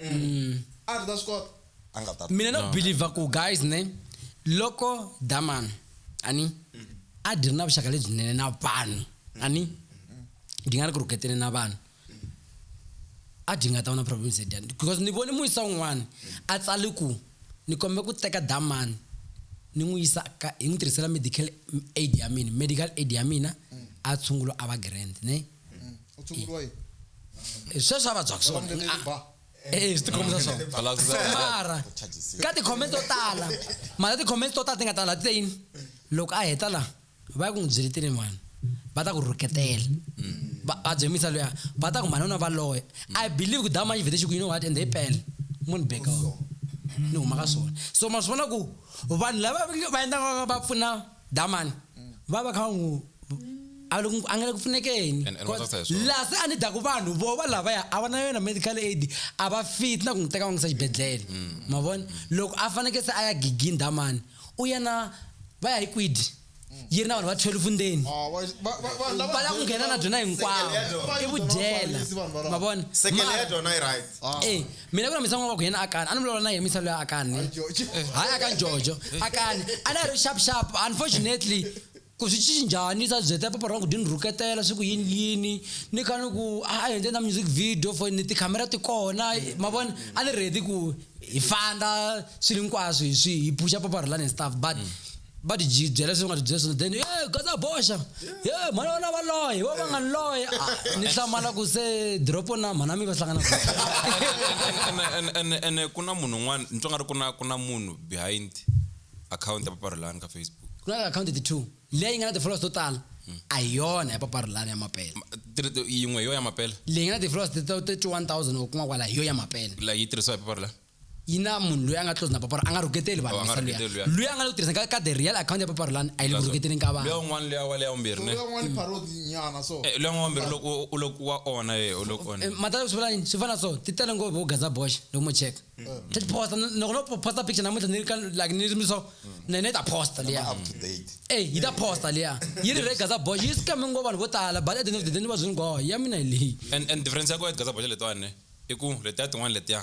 Mm. a ri ta swi kota a nga ta mina no believer ku guys ne loko daman ani a dyi ri na vuxaka lebyinene na vanhu ani dyi nga ri ku rhuketeni na vanhu a dyi nga ta va na problems ya dyani because ni vone muyisa wun'wana a tsali ku ni kombe ku teka daman ni n'wi yisa ka hi n'wi tirhisela medical aid ya mina medical aid ya mina a tshungulo a va grand ne u tshunguriwa yini Eh, sweswi a vabyaka swona Vanhu va le ba. Eh, swi tikhomisa Lava swona ku zama. mara ka ti-comment to tala mara ti-comment to tala ti nga tala ti te yini loko a heta la va ya ku n'wi byele tini mhani va ta ku rhuketela va va dzemisa luya va ta ku mhani u na valoya i believe ku dama yi vhete xi ku you know what and they pele munhu beka ni huma ka swona so ma swi vona ku vanhu lava va endlaka va pfuna Damani va va kha va n'wi a le ku- a nga le ku pfunekeni And- and va tsakisa hi swona. laha se a ni daku vanhu vo va lavaya a va na yona medical aid a va fit na ku n'wi teka va n'wi yisa xibedhlele Mm. ma vona loko a fanekele se a ya gigini damani u ya na va ya hi kwidi yi ri na vanhu va 12 ndzeni Ah, va- va- va- vanhu lava- va lava ku nghena na byona hinkwavo Sekele ya dyona. i vudyela Vanhu valava- ma vona sekele ya Mara- dyona yi right Ah. Eh, mina ku na misava wa ku yena akani a ni vulavula na yena misava leyi akani hayi aka njojo akani a ni a ri sharp sharp unfortunately ku swi cinci njhani sa byeta papa ra ku dini rhuketela swi ku yini yini ni kha ni ku a hi endle na music video for ni tikhamera ti kona ma vona a ni ready ku hi fanda swilo hinkwaswo hi swi hi pfuxa papa rhulani and stuff but mm. va ti byi- byela leswi va nga ti byela swona then "Eh, ye gaza boxa ye mhana vana va loye va va nga ni loye Ah, ni hlamala ku se dropo na mhana mi va hlangana ku Ene- ene- ene- ene ku na munhu un'wana ni twa nga ri ku na ku na munhu behind akhawunti ya paparhelani ka facebook ku na akhawunti ti two leyi nga na ti-followers to tala a hi yona ya paparhelani ya mapele Ma- ti- ti- yin'we hi yo ya mapela leyi nga na ti-followers ti- ti- ti 1000 or kun'wana kwala hi yo ya mapele la yi tirhisiwa hi paparhelani yi na munhu loyi a nga close na paparani a nga rhuketeli vanhu oh, misa luya loyi a nga le ku tirhiseni ka the real account ya papari lani a yi le ku rhuketeleni ka vanhu un'wana luya wa le ya vumbirhi ne eh, luya n'wana vumbirhi loko u loko wa ona ye u loko ona eh, mata swi vulani swi fana so ti tele ngopfu vo gaza bosh loko mo check mm. ta ti posta loko no posta picture namuntlha ni ri ka like ni ri mi so mm. na yena yi ta posta liya ey yi ta posta liya yi ri re gaza bosh yi scame ngo vanhu vo tala but at the end of the day ni va zwi ni ngoho ya mina hi leyi and and difference ya ko ya gaza bosh letiwani i ku letiya tin'wana letiya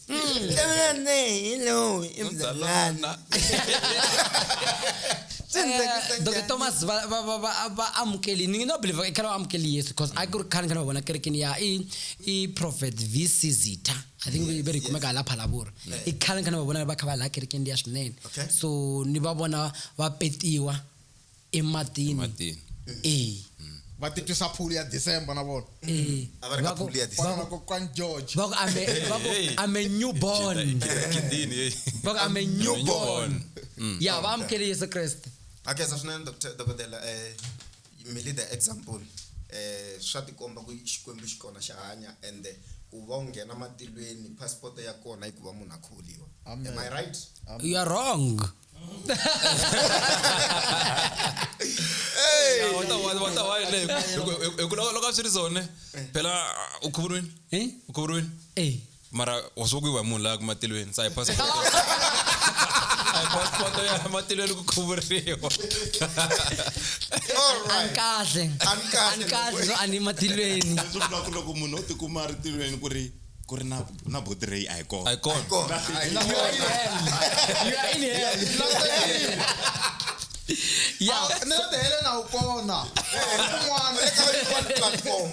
Hello, imzalana. doke thomas va va- va- va- va amukeli ni no believe i khale va amukeli yesu because a ku ri khale ni khale va vona kerekeni ya i i prophet vc zita i think ve- ve ri kumeka hala phalavura i khale ni khale ni va vona va kha va laha kerekeni liya swinene Okay. so ni va vona va petiwa ematini ematini e va titwisa phuli ya december na vona e A va ri ka va ku- phuli ya December. va fana na kokwani george va ku I'm a- va ku Hey. I'm a newborn kindini hey. va ku I'm a newborn Mm. ya va amukele yesu kreste a khensa swinene Dr. dokodela um mili the example um swa tikomba ku xikwembu xi kona xa hanya ende ku va u nghena matilweni passport ya kona yi ku va munhu a kholiwa Amen. am i right you are wrong loka swi ri zone phela u khuvuriwini eh? u khuvuriwini eh. mara wa swi kuyiwa hi munhu laha kumatilweni sa hi passport hi passport ya matilweni ku khuvuriwa anikahle anikahle no a ni matilweni loko munhu o tikuma ri tilweni ku ri ku ri na na body ray a hi kona a hi kona kona a yi you are in hell ya Ah, ni la tihele na wu kona un'wana eka yin'wana platform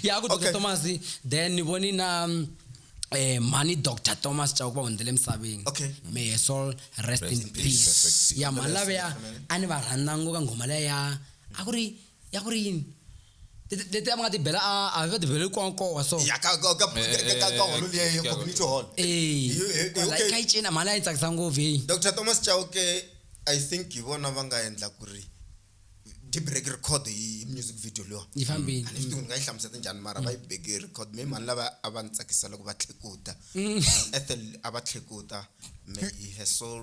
ya ku dr Okay. thomas then ni voni na mm, eh, mhani dr thomas chauke va hundzele emisaveni Okay. may her soul rest in peace ya mhani laveya a ni va rhandza ngopfu ka nghoma leya a ku ri ya ku ri yini Leti- leti a va nga ti bela a a va ti beleli konkowa so ya ka ka ka Eh, eh, ka- ka eh, holo liya ya eh, community hall Eh, You- eh, kwala okay. ka yi cina mhani a yi tsakisa ngopfu heyi dr thomas chauke i think hi vona va nga endla ku ri dibreak record hi music video leyiwa yi fambile Mm. a ni swi tivi ni nga yi hlamuseta njhani mara va yi beke hi record me mhani lava a va ni tsakisa loko va tlhekuta Mm. ethel a va tlhekuta may her soul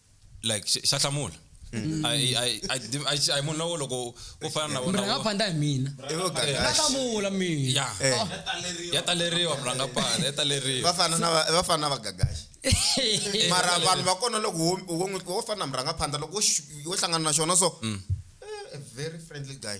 like xa- xa hlamula Mm. A hi- a hi- a hi- a hi- a hi munhu lowo loko wo fana na vona murhanga wo- panda hi mina I vo gagaxa. Na hlamula mina ya Eh. Oh. ya taleriwa murhanga panda ya taleriwa va fana na va- va fana na vagagaxi Eh, mara vanhu va kona loko wo- wo n'wi- wo fana na murhangaphandza loko wo xi- wo hlangana na xona so Mm. eh, a very friendly guy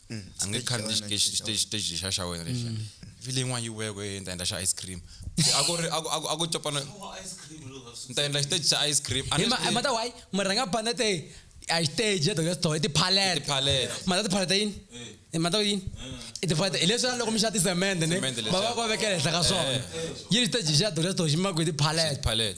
a nge khandziyi xiteji xiteji xiteji lexa xa wena lexa mm. vhile yin'wana yi weko e ni ta endla xa ice cream a ku ri a ku copana ni ta endla xiteji xa ice cream mata why mi rhanga banda te a xiteji ya doya sitoho i tiphalete mata tiphalete yini eh. mata yini eh. i tiphalete hi leswi loko mi xa tisemende ni va va va vekela henhla ka swona eh. yi ri xiteji xa doya sitoho xi maku hi tiphalete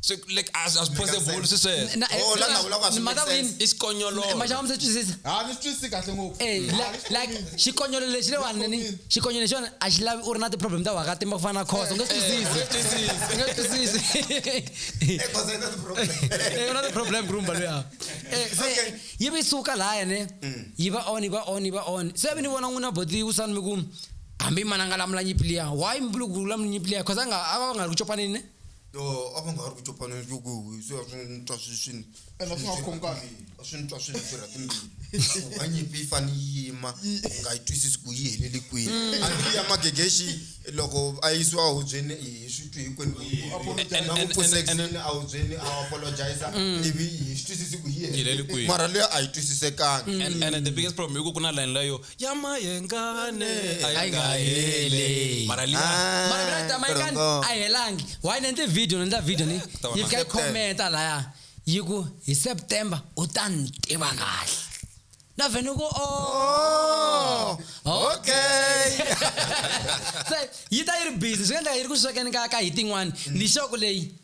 so like as as possible se se na eh, oh la na ula kwa mother win is konyolo ma jama mse twisisa ha ni twisi kahle ngo eh like shi konyolo le shi le wa nani shi konyolo shi a shi la u ri na ti problem ta wa ka timba ku fana khoso ngo twisisi ngo twisisi eh khoso ina ti problem eh una ti problem grumba lo ya eh se yi bi suka la ya ne mm. yi ba on yi ba on yi ba on se bi ni vona nguna bodi u san mi ku hambi mananga la mlanyi plia why mbulu ku la mlanyi plia khosa nga ava nga ku chopanini Yoh a va nga ha ri ku copana ni loko hi swi va swi n'wi twa swi swi ni Ene a swi nga khomi kahle. a swi ni twa swi ni tirha timbilu ku va nyimpi yi fane yi yima hi nga yi twisisi ku yi helele kwini a ndzi ya magegexi loko a yisiwa hubyeni hi swi twi hinkwenu ku yi Apologize. na ku pfusa exini a hubyeni a apologize ivi hi swi twisisi ku yi Yi helele helele kwihi. mara leyi a yi twisisekangi And, and the biggest problem i ku ku na layeni leyo Yama yengane ayingaheli. Mara liya. Ah, mara mina tama yi ka Torongo. a helangi why ni endle video ni endla video ni Eh, ta va yi na fika yi September. khometa laya yi ku hi september u ta ni tiva kahle na vhe ni ku o okay se yi ta yi ri busy swi nga endleka yi ri ku swekeni ka ka hi tin'wani lixoko leyi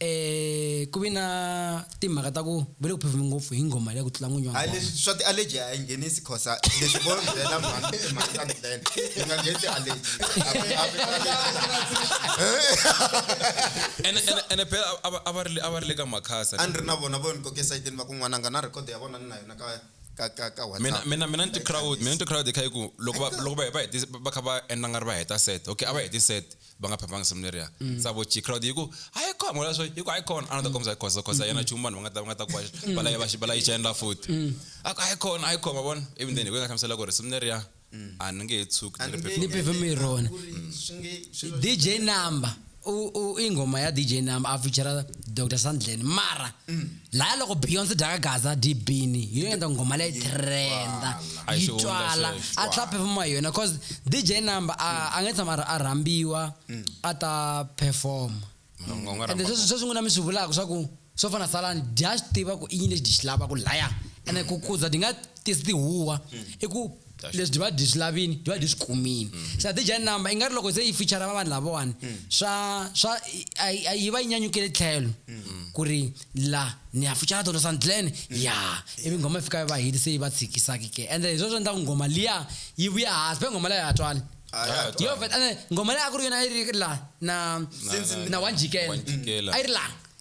eh ku vi na timhaka ta ku va le ku phefumi ngopfu hi nghoma leya ku tlula n'winyi wa leswi swa ti-allergy a yi nghenisi khosa leswi vo byela mhani i mhani ka ndlene yi nga ngheni ti-allergy ene ene ene phela a va- a va ri le- a va ri le ka makhasa a ni ri na vona vo ni koke esayitini va ku n'wananga na record ya vona ni na yona ka ka ka ka mina WhatsApp. mina mina ni ti-crowd mina ni ti-crowd kha yi ku loko va loko va va hetisa va kha va endla nga ri va heta set okay a va heti set va nga phambanga seminary ya mm. savo chi crowd yi ku a yi kona mola swo yi ku a yi kona a na ta kombisa khosa khosa yena chumu vanhu va nga ta va nga ta ku balayi mm. balayi cha endla futhi mm. a ku a yi kona a yi kona vona even then hi ku nga hlamusela ku ri seminary ya a ni nge he tshuki ni pefumi rona dj number ingoma ya dj number a feature dr sandlen mara laya loko beyonce dyaka gaza dibini hi yo endla nghoma leyi trenda A yi yi xihundla twala sweswo. a tlaphe pfuma yona cause dj number a a nge tshama a rha- a rhambiwa a ta performa Mina nga- nga ende rhamba- sweswi sweswi n'wina mi swi vulaka swa ku swo fana salani dya swi tiva ku i yini lexi di xi lavaka laya ene ku kuza di nga tisi tihuwa i ku leswi divide hi swi lavini divide hi swi kumini mm. se adija number i nga ri loko se yi feature va vanhu lavawani mm. swa swa a yi va yi nyanyukele tlhelo mm. ku ri la ni ya feature tona sandlene ya ivi nghoma yi fika yi va hiti se yi va tshikisaki ke ende hi swo swi endla ku nghoma liya yi vuya hansi phe nghoma leyo ya twali yo vet ende nghoma leyi a ku ri yona a yi ri la na na wanjikela a yi ri langa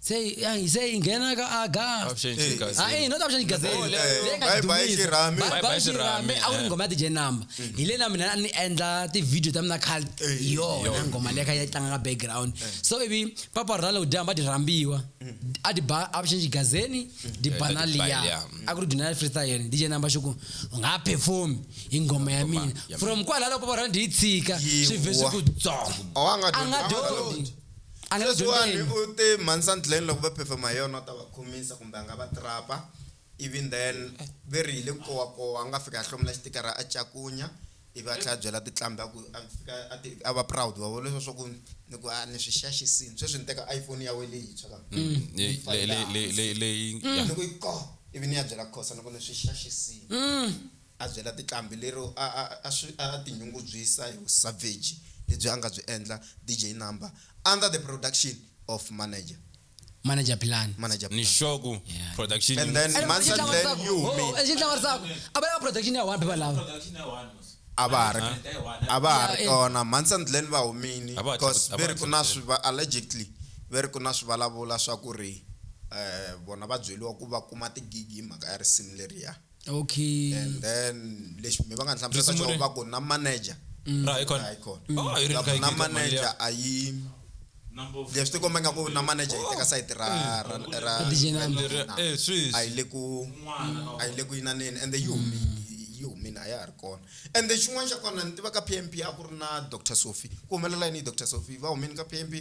se ai- se ingena ka a gas Abushenjika, Eh, hayi not abushenji gas Oh, le- eh, bye bye xirhami. Bye bye xirhami, a ku ri eh. ngoma ya tije number hi lena mina a ni endla ti-video ta mina khale Eh, hi yona ngoma leya kha yi tlanga ka background so ivi papa ra loko dyamba di rhambiwa a di ba abushenji gazeni di ba na di ba liya liya. a ku ri duna freestyle dj number xo ku u nga performi hi ngoma ya mina ya from kwalalo papa ra di yi tshika swi ve swi ku Yiwa. dzongo A wa nga a nga dyondzi. dyondzi A nga le Sweswiwani dyondzeni. u te mhani Sandlin loko va phefema hi yona u ta va khomisa kumbe a nga va trap-a ivi then ve ri hi le Kowakowa a nga fika a hlomula xitikara a cakunya ivi a tlhela a byela tiqambi a ku a fika a ti a va proud wa vona leswiya swa ku ni ku a ni swi xaxisini sweswi ni teka iPhone ya wena leyintshwa va Ni yi Le- le- fayila le- le- hansi. le- leyi- ya. Ni ku yi koh ivi ni ya byela Khosa ni ku ni swi xaxisini. A byela tinqambi lero a a a a tinyungubyisa hi vusavheji lebyi a nga byi endla DJ Number under the production of Manager. Manager Plan. Manager Ni Plan. Xoku Yeah. production And yi then n'wi Ene Mansa Xitlawa Clan Ntsako. yi Ho, humile. Xitlawa Ntsako. A va lava production ya one phepha lawa. A va ha ri a va ha ri Yeah, eh. kona Mansa and Glen va humile A va ha coz tlaku- a va ve ha ri ku na tlakuseli. swi va allegedly ve ri ku na swivulavula swa ku ri eh vona va byeliwa ku va kuma ti-gig hi mhaka ya risimu leriya. okay and then lexi mi va nga ni hlamusela Risimu xona ri- va ku na manager ra icon na icon oh i ri va ku na manager a yi leswi ti komba nga ku na manager yi teka sayiti ra ra ra DJ ra Nandi. DJ Nandi. eh swiss a yi le ku a yi le ku yinaneni ende yi humi yi humile a ya ha ri kona ende xin'wana xa kona ni tiva ka p m p a ku ri na dr sophie ku humelela yini hi dr sophie va humini ka p m p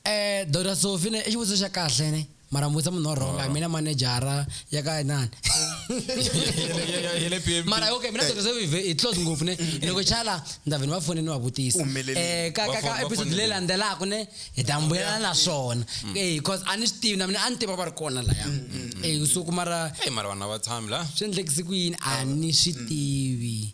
Eh, Dr. Sophie ne, i xivutiso xa kahle ne. Mara mi vutisa munhu wa wrong, a mina manejara ya ka nani. Yele PMP. Mara okay, mina Dr. Sophie ve- hi close ngopfu ne. Loko chala ni ta ve ni va fone ni va vutisa. Umelele. Eh, ka ka Va fo- ka va episode fonele. leyi landzelaka ne, hi ta mbuyelana na swona. Eh, because a ni swi tivi na mina a ni tiva va ri kona laya. Eh, so ku mara Hey, mara vanhu a va tshami la swi endlekise ku yini a ni swi tivi.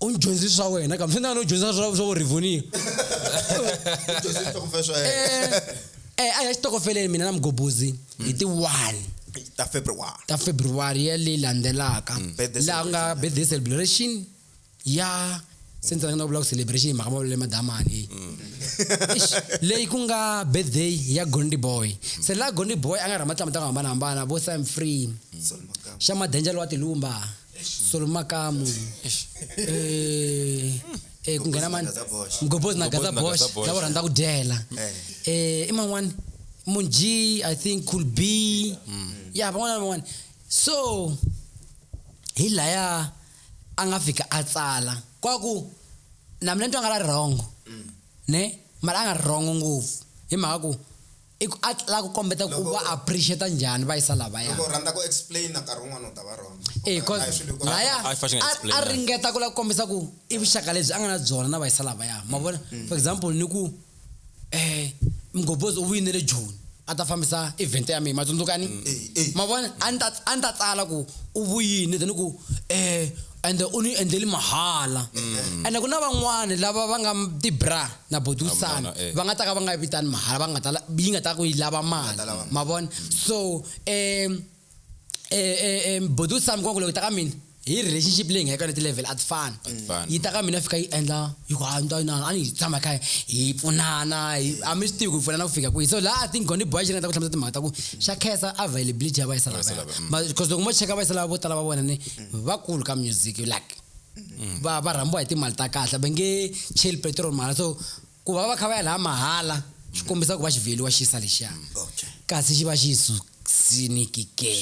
u ni dyondzisi swa wena kambe swi na no dyondzisa swa swa vurivoniwa eh, eh, a ya xitokofeleni mina na mugobozi hi ti one ta february ta february ya leyi landzelaka mm. laha ku nga birthday celebration ya since rina vula ku celebration hi mhaka mavulele madamani mm. leyi ku nga birthday ya gondi boy mm. se laha gondi boy a nga rha matlama ta ku hambanahambana vo sam free xa madenjalo wa tilumba solo makamu eh, eh, ku nghena mani Mgobhozi na Gaza Bosch. mgobhozi na gaza Mgobhozi na bosh Gaza Bosch. lavo rhandza ku dyela Eh, i man'wani munji i think cool b ya van'wana na van'wana so hi laya a nga fika a tsala kwaku na mina ni twa nga la ri wrong ne mara a nga ri wrong ngopfu hi mhaka ku I ku a la ku kombeta ku Loko- va appreciate njhani va yisa lavaya. loko u rhandza ku explain nkarhi wun'wana u ta va wrong Eh, cause Hi swilo hinkwaswo. laya I fashion a- a explainer. ringeta ku la ku kombisa ku i vuxaka lebyi a nga na byona na vayisa lavaya ma vona for example ni ku eh mgobhozi u vuyinele joni a ta fambisa event ya mina ma tsundzukani Eh, eh. ma vona a ni ta a ni ta tsala ku u vuyini then ku eh ende u ni endleli mahala Mm. ende ku na van'wani lava va nga ti-bra na bodusana Hambilana, eh. va nga ta ka va nga yi vitani mahala va nga ta la- yi nga ta ku yi lava mali ta lava mali. ma vona so um um bodu sam kwaku loko yi ta ka mina hi relationship leyi nga eka na ti-level a ti fani fani. yi ta ka mina fika yi endla yi ku hanta na a ni hi tshama kha hi pfunana hi- a mi swi tivi ku hi pfunana ku fika kwihi so laha i think goni boy xi nga ta ku hlamusela timhaka ta ku xa khensa availability ya vayisala Vayisala, mm. because loko mo cheka vayisala vo tala va vona ni vakulu ka music you like mm. va va rhambiwa hi timali ta kahle va nge cheli petrol mahala so ku va va kha va ya laha mahala swi mm. kombisa ku va xivheliwa xi yisa lexiya mm, kasi xi va xi yi susiniki ke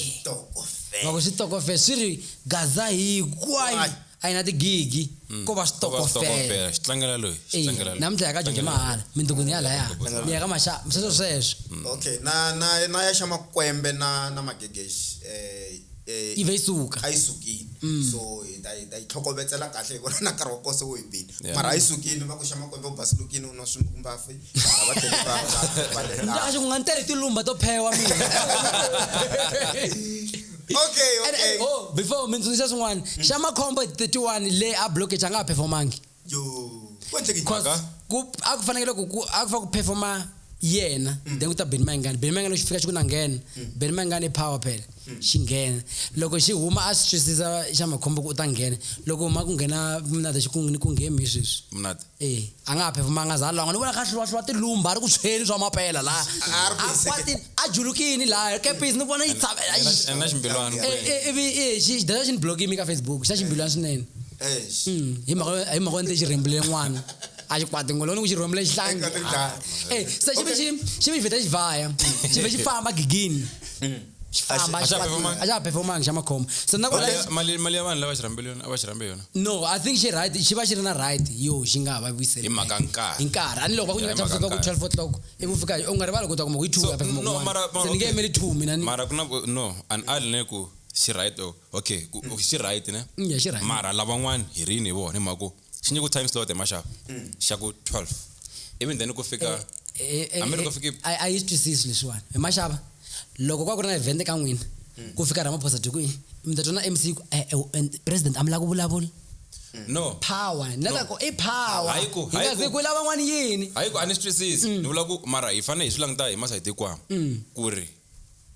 loko switokofela swi ri gaza hinkwayo a yi na tigigi ko va switokofelaxitlangelaloyinamuntlha ya ka jojo mahala mindukuni ya laya ni ya ka maxa sweswo sweswo okay na na na ya xa makwembe na na magegexi um eh, eh, yi va yi suka a yi sukile mm. so hi ta hi ta yi tlhokovetsela kahle hi vona na nkarhi wa kose wo hi bile mara a yi sukile va ku xa makwembe u basilukile u nwa swimbafi va tlheleaxi ku nga ni tele tilumba to phewa mina okay okay oh, before mi tsundzuxa swin'wana xa makhombo 31 le a blockage a nga ha performangi yo kwendleke njani cause ku a ku fanekele ku ku- a ku fa ku performa yena then ku ta beni mayingani beni mayingani loko xi fika xi ku na nghena beni mayingani i power phela xi nghena loko xi huma a swi twisisa xa makhombo ku u ta nghena loko huma ku nghena mnada xi ku ni ku nghemi hi sweswi mnati e a nga ha phefumanga za longa ni vona kha hluwahluwa tilumba a ri ku tshweni swa mapela laha A ri ku a hiseke. kwatini a julukini laha kepisi ni vona yi tsave and na ximbilwana Eh, eh, ivi eh, xi- xi data xi ni blokimi ka facebook xa ximbilwana swinene Hmm, hi mhaka ni te xi rhembule n'wana a xi kwati ngoloni ku xi rhembule xihlangi eh, se xi ve xi xi ve xi vheta xi vhaya xi ve xi famba gigini hmm. famba a xa performanga xa makhombo so na mali mali ya vanhu lava xi rhambele yona va xi rhambe yona no i think xi right xi va xi ri na right yo xi nga va vuyiseli hi mhaka nkarhi hi nkarhi ani loko va ku nyika cha kusuka ku 12 o'clock i ku fika u nga rivali ku ta kuma ku yi 2 ya performanga se ni nge yimeli 2 mina ni mara ku na no an ali ne ku xi right oh, okay ku- okay, xi right ne Mm, yeah, xi right. mara lavan'wani hi rini hi vona hi mhaka ku xi nyiko time slot emaxava Mm. xa ku 12 even then ku fika Eh, eh, Hambi loko eh, fike- a a yi swi twisisi leswiwani hi maxava loko kwa ku ri na event ka n'wina Mm. ku fika ramaphosa dyi kwihi mi ta twana mc ku, eh, eh, and president a mi lava ku vulavula no power ni lava ku i power Hayi ku- hi hayi nga ku- ze ku lava n'wana yini hayi ku a ni swi twisisi ni vula ku mara hi fanele hi swi languta hi masayiti hinkwawo ku ri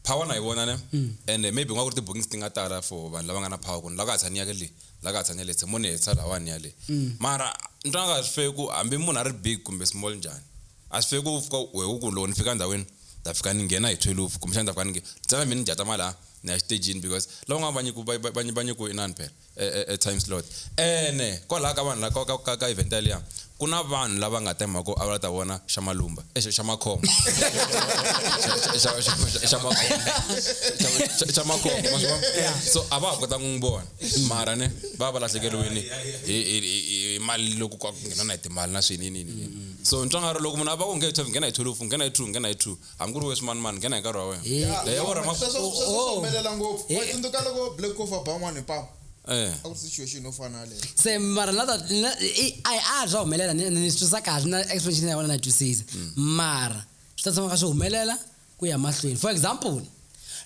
power na yi vona ne mm. and eh, maybe nga ku ri ti-bookings ti nga tala for vanhu lava nga na power ku ni la ka ha tshani yake le la ka ha tshani yale se mo ni hetisa lawani yale mm. mara ni twa nga ka swi feki ku hambi munhu a ri big kumbe small njhani a swi feki ku fika we u ku loko ni fika ndhawini ta fika ni nghena hi twelve kumbexani ta fika ni ntsena mina ni jata malaya ni ya xitejini because lava nga vanyiku vanyiku inani phela e, e, e time slot ene kwalaha ka vanhu laka ka, ka, ka event yaliya ku na vanhu lava nga ta mhako a va ta vona xa malumba eh, xa makhombo xa makhombo so a va ha kota n'wi vona mara ne va va lahlekeriwini hi mali loko ku nghena na hi timali na swinini so ntswangaro loko munhu a va ku nge twelve nghena hi twelve nghena hi two nghena hi two hambi ku ri we swimanimani nghena hi nkarhi wa wena Eh, Leyi ya vona ma- Sweswo- sweswo swi Oh. humelela ngopfu Eh. wa tsundzuka loko black coffee a ba n'wana hi pamu eh a ku ri situation yo fana yaleyo se mara na ta- na- i- a a swa humelela ni ni swi twisisa kahle na explanation ya wena na yi twisisa mara swi ta tshama ka swi humelela ku ya mahlweni for example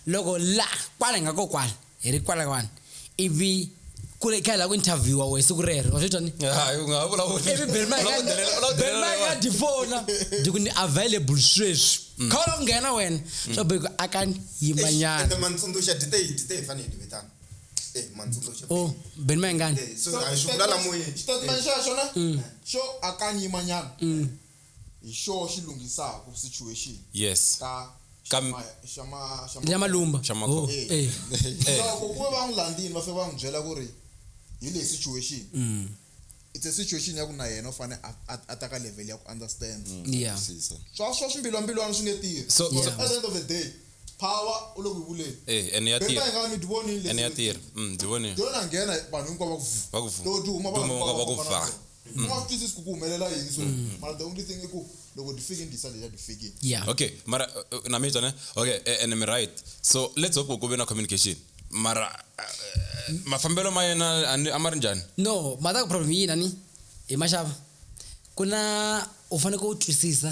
loko la kwala hi nga ko kwala hi ri kwalawani ivi ku ri kha hi lava ku interviewa wehe siku rero wa swi twa ni hayi u nga ha vulavuli ivi belmaka di fona di ku ni available sweswi mm. kha ula ku nghena wena mm. swa beko a ka yimanyana mantsundzuxa dite yi dite yi fanele vetana eh, o oh, beni mayengani eh, xitatimende xa xona mm. xo akanyimanyana hi xoho xi lunghisaku situation Yes. ka Ka mi- Xama- Xama- Xama- Nyamalumba. Xamakhoba. Oh, Eh. eh. Eh. loko ku ve va n'wi landzini va fika va n'wi byela ku ri hi leyi situation Mm. it's a situation ya ku na yena u fane a- a a ta ka level ya ku understand Mm. Yeah. Twisisa. swa swa swimbilwambilwana swi nge tirhi So- Because Yeah. at the end of the day power u le ku yi vuleni Eh, ene ya beta tirha. ingawa mi ti vonile Ene ya tirha. Mm, ndzi vonile. yona nghena vanhu hinkwavo va ku vu- Va ku vu- loko ti huma vanhu duma va ku hinkwavo va ku va va vha. vona. u nga swi twisisi ku ku humelela yini so mara the only thing i ku loko ti fike ni disa leya ti fikile yeah okay mara uh, uh, na mitwa ne okay eh, and I'm right so let's hope ku ve na communication mara uh, mafambelo ma yena a ni- a ma ri njhani no mhaka ku problem yini ani hi maxava ku na u faneke u twisisa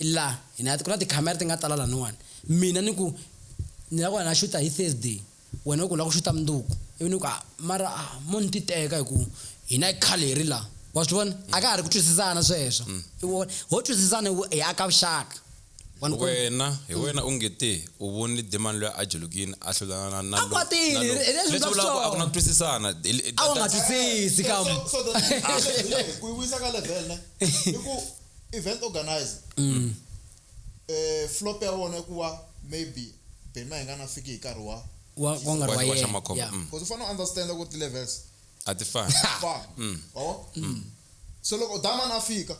I la, hi na, ku na tikhamera ti nga tala laniwani. Mina ni ku, Ni lava ku ya ni ya xuta hi Thursday. Wena u ku u lava ku xuta mundzuku. Ivi ni ku, A, mara a, mo ni titeka hi ku hina hi khale hi ri la. Wa swi vona? A ka ha ri ku twisisana sweswo. I ku, ho twisisana hi ku hi aka vuxaka. Wa ni kuma? Wena, hi wena u nge te, u vonile Demon luya a jolokini, a hlula na, na, na lowu, na lowu. A kwatile, hi leswi u nga swi twa. Leswi vulaka ku a ku na ku twisisana. Hi, hi, hi, A wu nga twisisi ka. So, so, so, hi ku yi vuyisa ka level ne, i ku. event organizer mm. eh, flop ya wona ku va maybe bema hi nga na fiki hi nkarhi wa wa wa nga ri wa Wa- wa xa yena makhombo, yeah. mm. because u fanele u understanda ku ri ti-levels a ti fani fana Mm. awa Mm. so loko damani a fika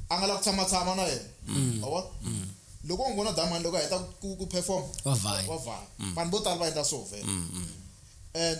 a nga la ku tshamatshama na yena Mm. awa loko u n'wi vona damani loko a heta ku- ku perform Wa vhaya. wa vhaya vanhu vo tala va endla swo vhela Mm, mm. and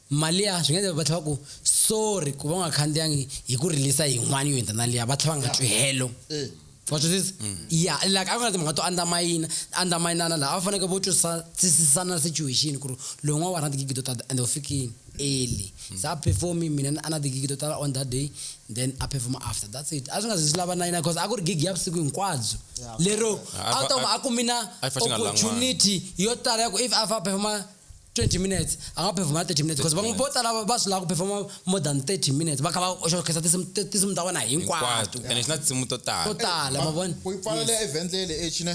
Malia swi nga endleka va tlhela va ku sorry ku va u nga khandziyangi hi ku rilisa yin'wana yo hundza na liya va tlhela va nga twi helo wa twisisa ya like a ku na timhaka to andamayina andamayinana laha a va faneke vo twisisana situation ku ri loyi n'wana wa ha ri na tigigi to tata ende u fikini early se a perform-i mina ni a na tigigi to tala on that day then a perform-a after that's it a swi nga zi swi lava na yini coz a ku ri gigi ya vusiku hinkwabyo lero a wu ta kuma a kumi na A xi pfa xi nga ri la n'wana. opportunity yo tala ya ku if a fa a perform-a 20 minutes a nga performa 30 minutes because van'we vo tala va swi lava ku performa more than 30 minutes va kha va oxokhetsa tinsimu ti- tinsimu ta vona hinkwato and it's not simu to to tala tala ma vona ku yi pfalela event lele echine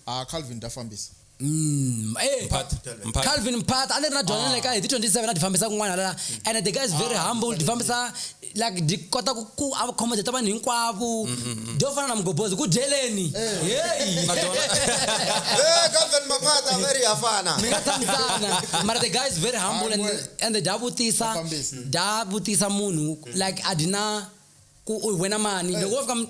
a calvin ta fambisa Mm, eh, Mphathi, mphathi. calvin mphat a ni ri na dyondzo le ka hi ti 27 a ti fambisa kun'wana hala and the guy is very humble ti fambisa like ndikota kuacommodata vanhu hinkwavo ndo fana na mugobhozi kudyeleni heyi Eh, Captain Maphata, very hafana. mi nga tshamisana mara the guy is very humble and, Humble. and da vutisa Vafambisi. da vutisa munhu like a dina ku u wena mani loko wo fika mi-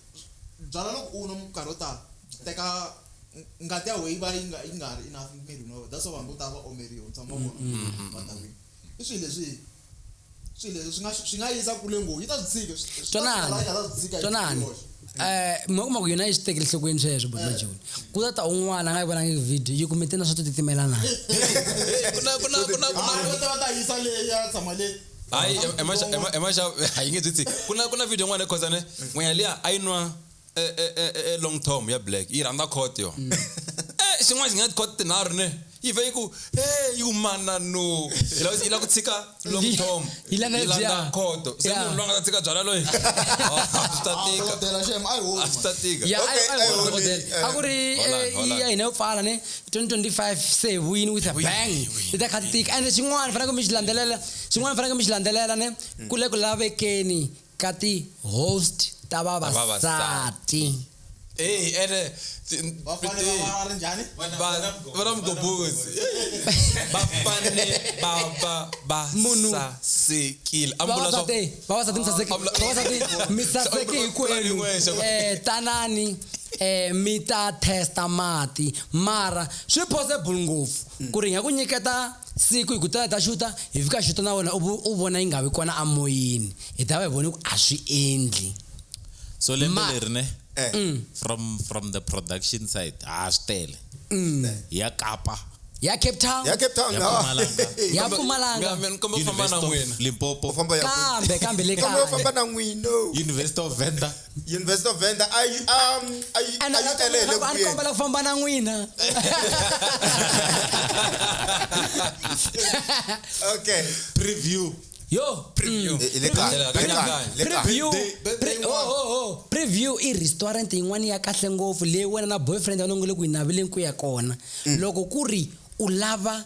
Byala loko u nwa minkarhi yo tala byi teka ngati ya wehe yi va yi nga yi nga ha ri enough emirini wa wehe that's why vanhu vo tala va omeriwa mi tshama mi va vona va dakwini i swilo leswi swilo leswi swi nga swi nga yisa kule ngopfu yi ta swi tshika swi swi ta swi twanani nga ta swi tshika hi twanani yoxe. um mi kuma ku yona yi swi tekele nhlokweni sweswo but majoni ku ta ta un'wana a nga yi vonangi video yi kumete na swa to titimelana ku na ku na ku na ku na Hayi, va ta va ta yisa leyi ya tshama le hayi emashavu hayi nge byi tsi ku na ku na video n'wana cause ne n'wenya liya a yi nwa e, e, e, long tom ya black yi rhandza cot yo mm. eh, xin'wana xi nga cot tinharhu ne yi vhe yi ku e yi ku mana no yi la ku tshika long tom yi landza khoto se munhu loyi nga ta tshika byala loyi swi ta tika swi ta tika a ku ri ya hina yo pfala ne 2025 se hi vuyini with a bang hi ta kha ti tika ende xin'wana faneke mi xi landzelela xin'wana faneke mi xi landzelela ne hmm. ku le ku lavekeni ka ti-host ta vavasati Hey, ene vana mugobhozi va fanele va va va sasekile vavasati mi saseke hikwenu um tanani eh mi ta testa mati mara swi possible ngopfu mm. ku ri nga ku nyiketa siku hi ku tala ta xuta hi fika xuta na wena u vona yi nga vi kona amoyeni hi ta va hi voni ku a swi endli so lembe leri ne eh. mm. from from the production side ha swi tele mm. ya kapa ya cape town ya cape town ya mpumalanga mina komba famba na n'wina limpopo kambe kambe le kaya famba na n'wina university of venda University of Venda a yi a a yi a yi tele hi le ku a ni yeni. kombela ku famba na n'wina Okay. preview yo Preview. mm. Hi le kaya, Preview. le kaya, le kaya. Preview. Birthday- birthday Pre- oh, oh, oh. preview i restaurant yin'wana ya kahle ngopfu leyi wena na boyfriend wena u nge le ku yi naveleni ku ya kona loko ku ri u lava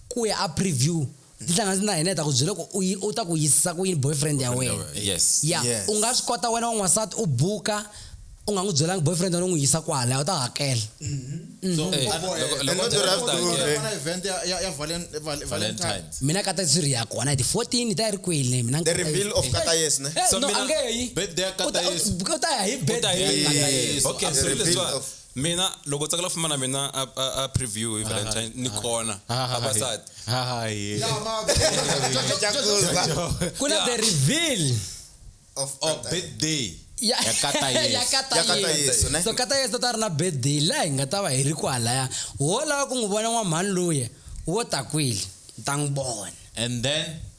ku ya a preview ndzi hlanga ndzi na hina hi ta ku byela ku u yi- u ta ku yisisa ku yini boyfriend ya wena yes ya Yes. u nga swi kota wena wan'wansati u buka u nga n'wi byelangi boyfriend wena u n'wi yisa kwala u ta hakela so Eh, and- loko- and loko- not the loko- right loko- way. Fana event ya- ya- ya Valen- Val- Valentine. valentines mina kata tsiri ya kona hi ti 14 hi ta yi ri kwele mina the reveal of kata yes ne Eh, So no, mina- angeyi. birthday ya Kata Uta- Yesu. uta ya hi birthday. Uta hi- Kata Yesu. Okay, so Reveal leswa- of- mina loko u tsakela fuma na mina a, a, a preview hi valentine ni kona vavasati hayi Yeah, ma- ku na the reveal of oh Qatar. birthday ya Ya kata Yesu. ya kata Ya kata Yesu. Yesu, ne? so kata yesu ta ri na birthday laha hi nga ta va hi ri kwalaya wo lava ku n'wi vona n'wamhani luya wo ta kwile ni ta n'wi vona and then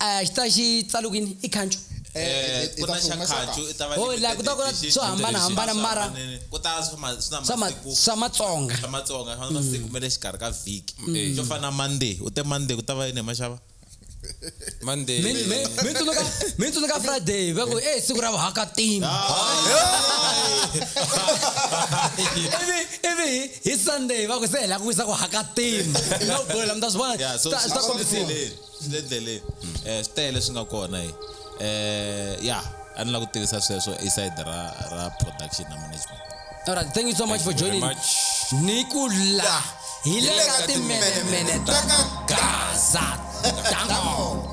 a xi ta xi tsalukini i khancu Eh, ku na xa khancu i ta va Oh, la, ku ta- ku na limited swo hambanahambana, edition. mara- Hambanile. ku ta swa ma- swi na swa ma- masiku swa matsonga swa matsonga swa masiku ma le xikarhi ka vhiki Mm. xo fana na monday u te monday ku ta va yini hi maxava Monday. Mi- mi- mi tsundzuka mi tsundzuka friday va ku e siku ra vuhakatima ivi ivi hi- hi sunday va ku se hi la ku wisa ku hakatima no problem ta swi vona Yeah, so swi ta- swi ta swi kombisiwa. fambisile. swi le ndleleni um swi tele leswi nga kona hi um ya a ni la ku tivisa sweswo i side ra ra production na management All right, thank you so much for joining. Ni ku la hi le ka timenemene ta ka Gaza. Dango.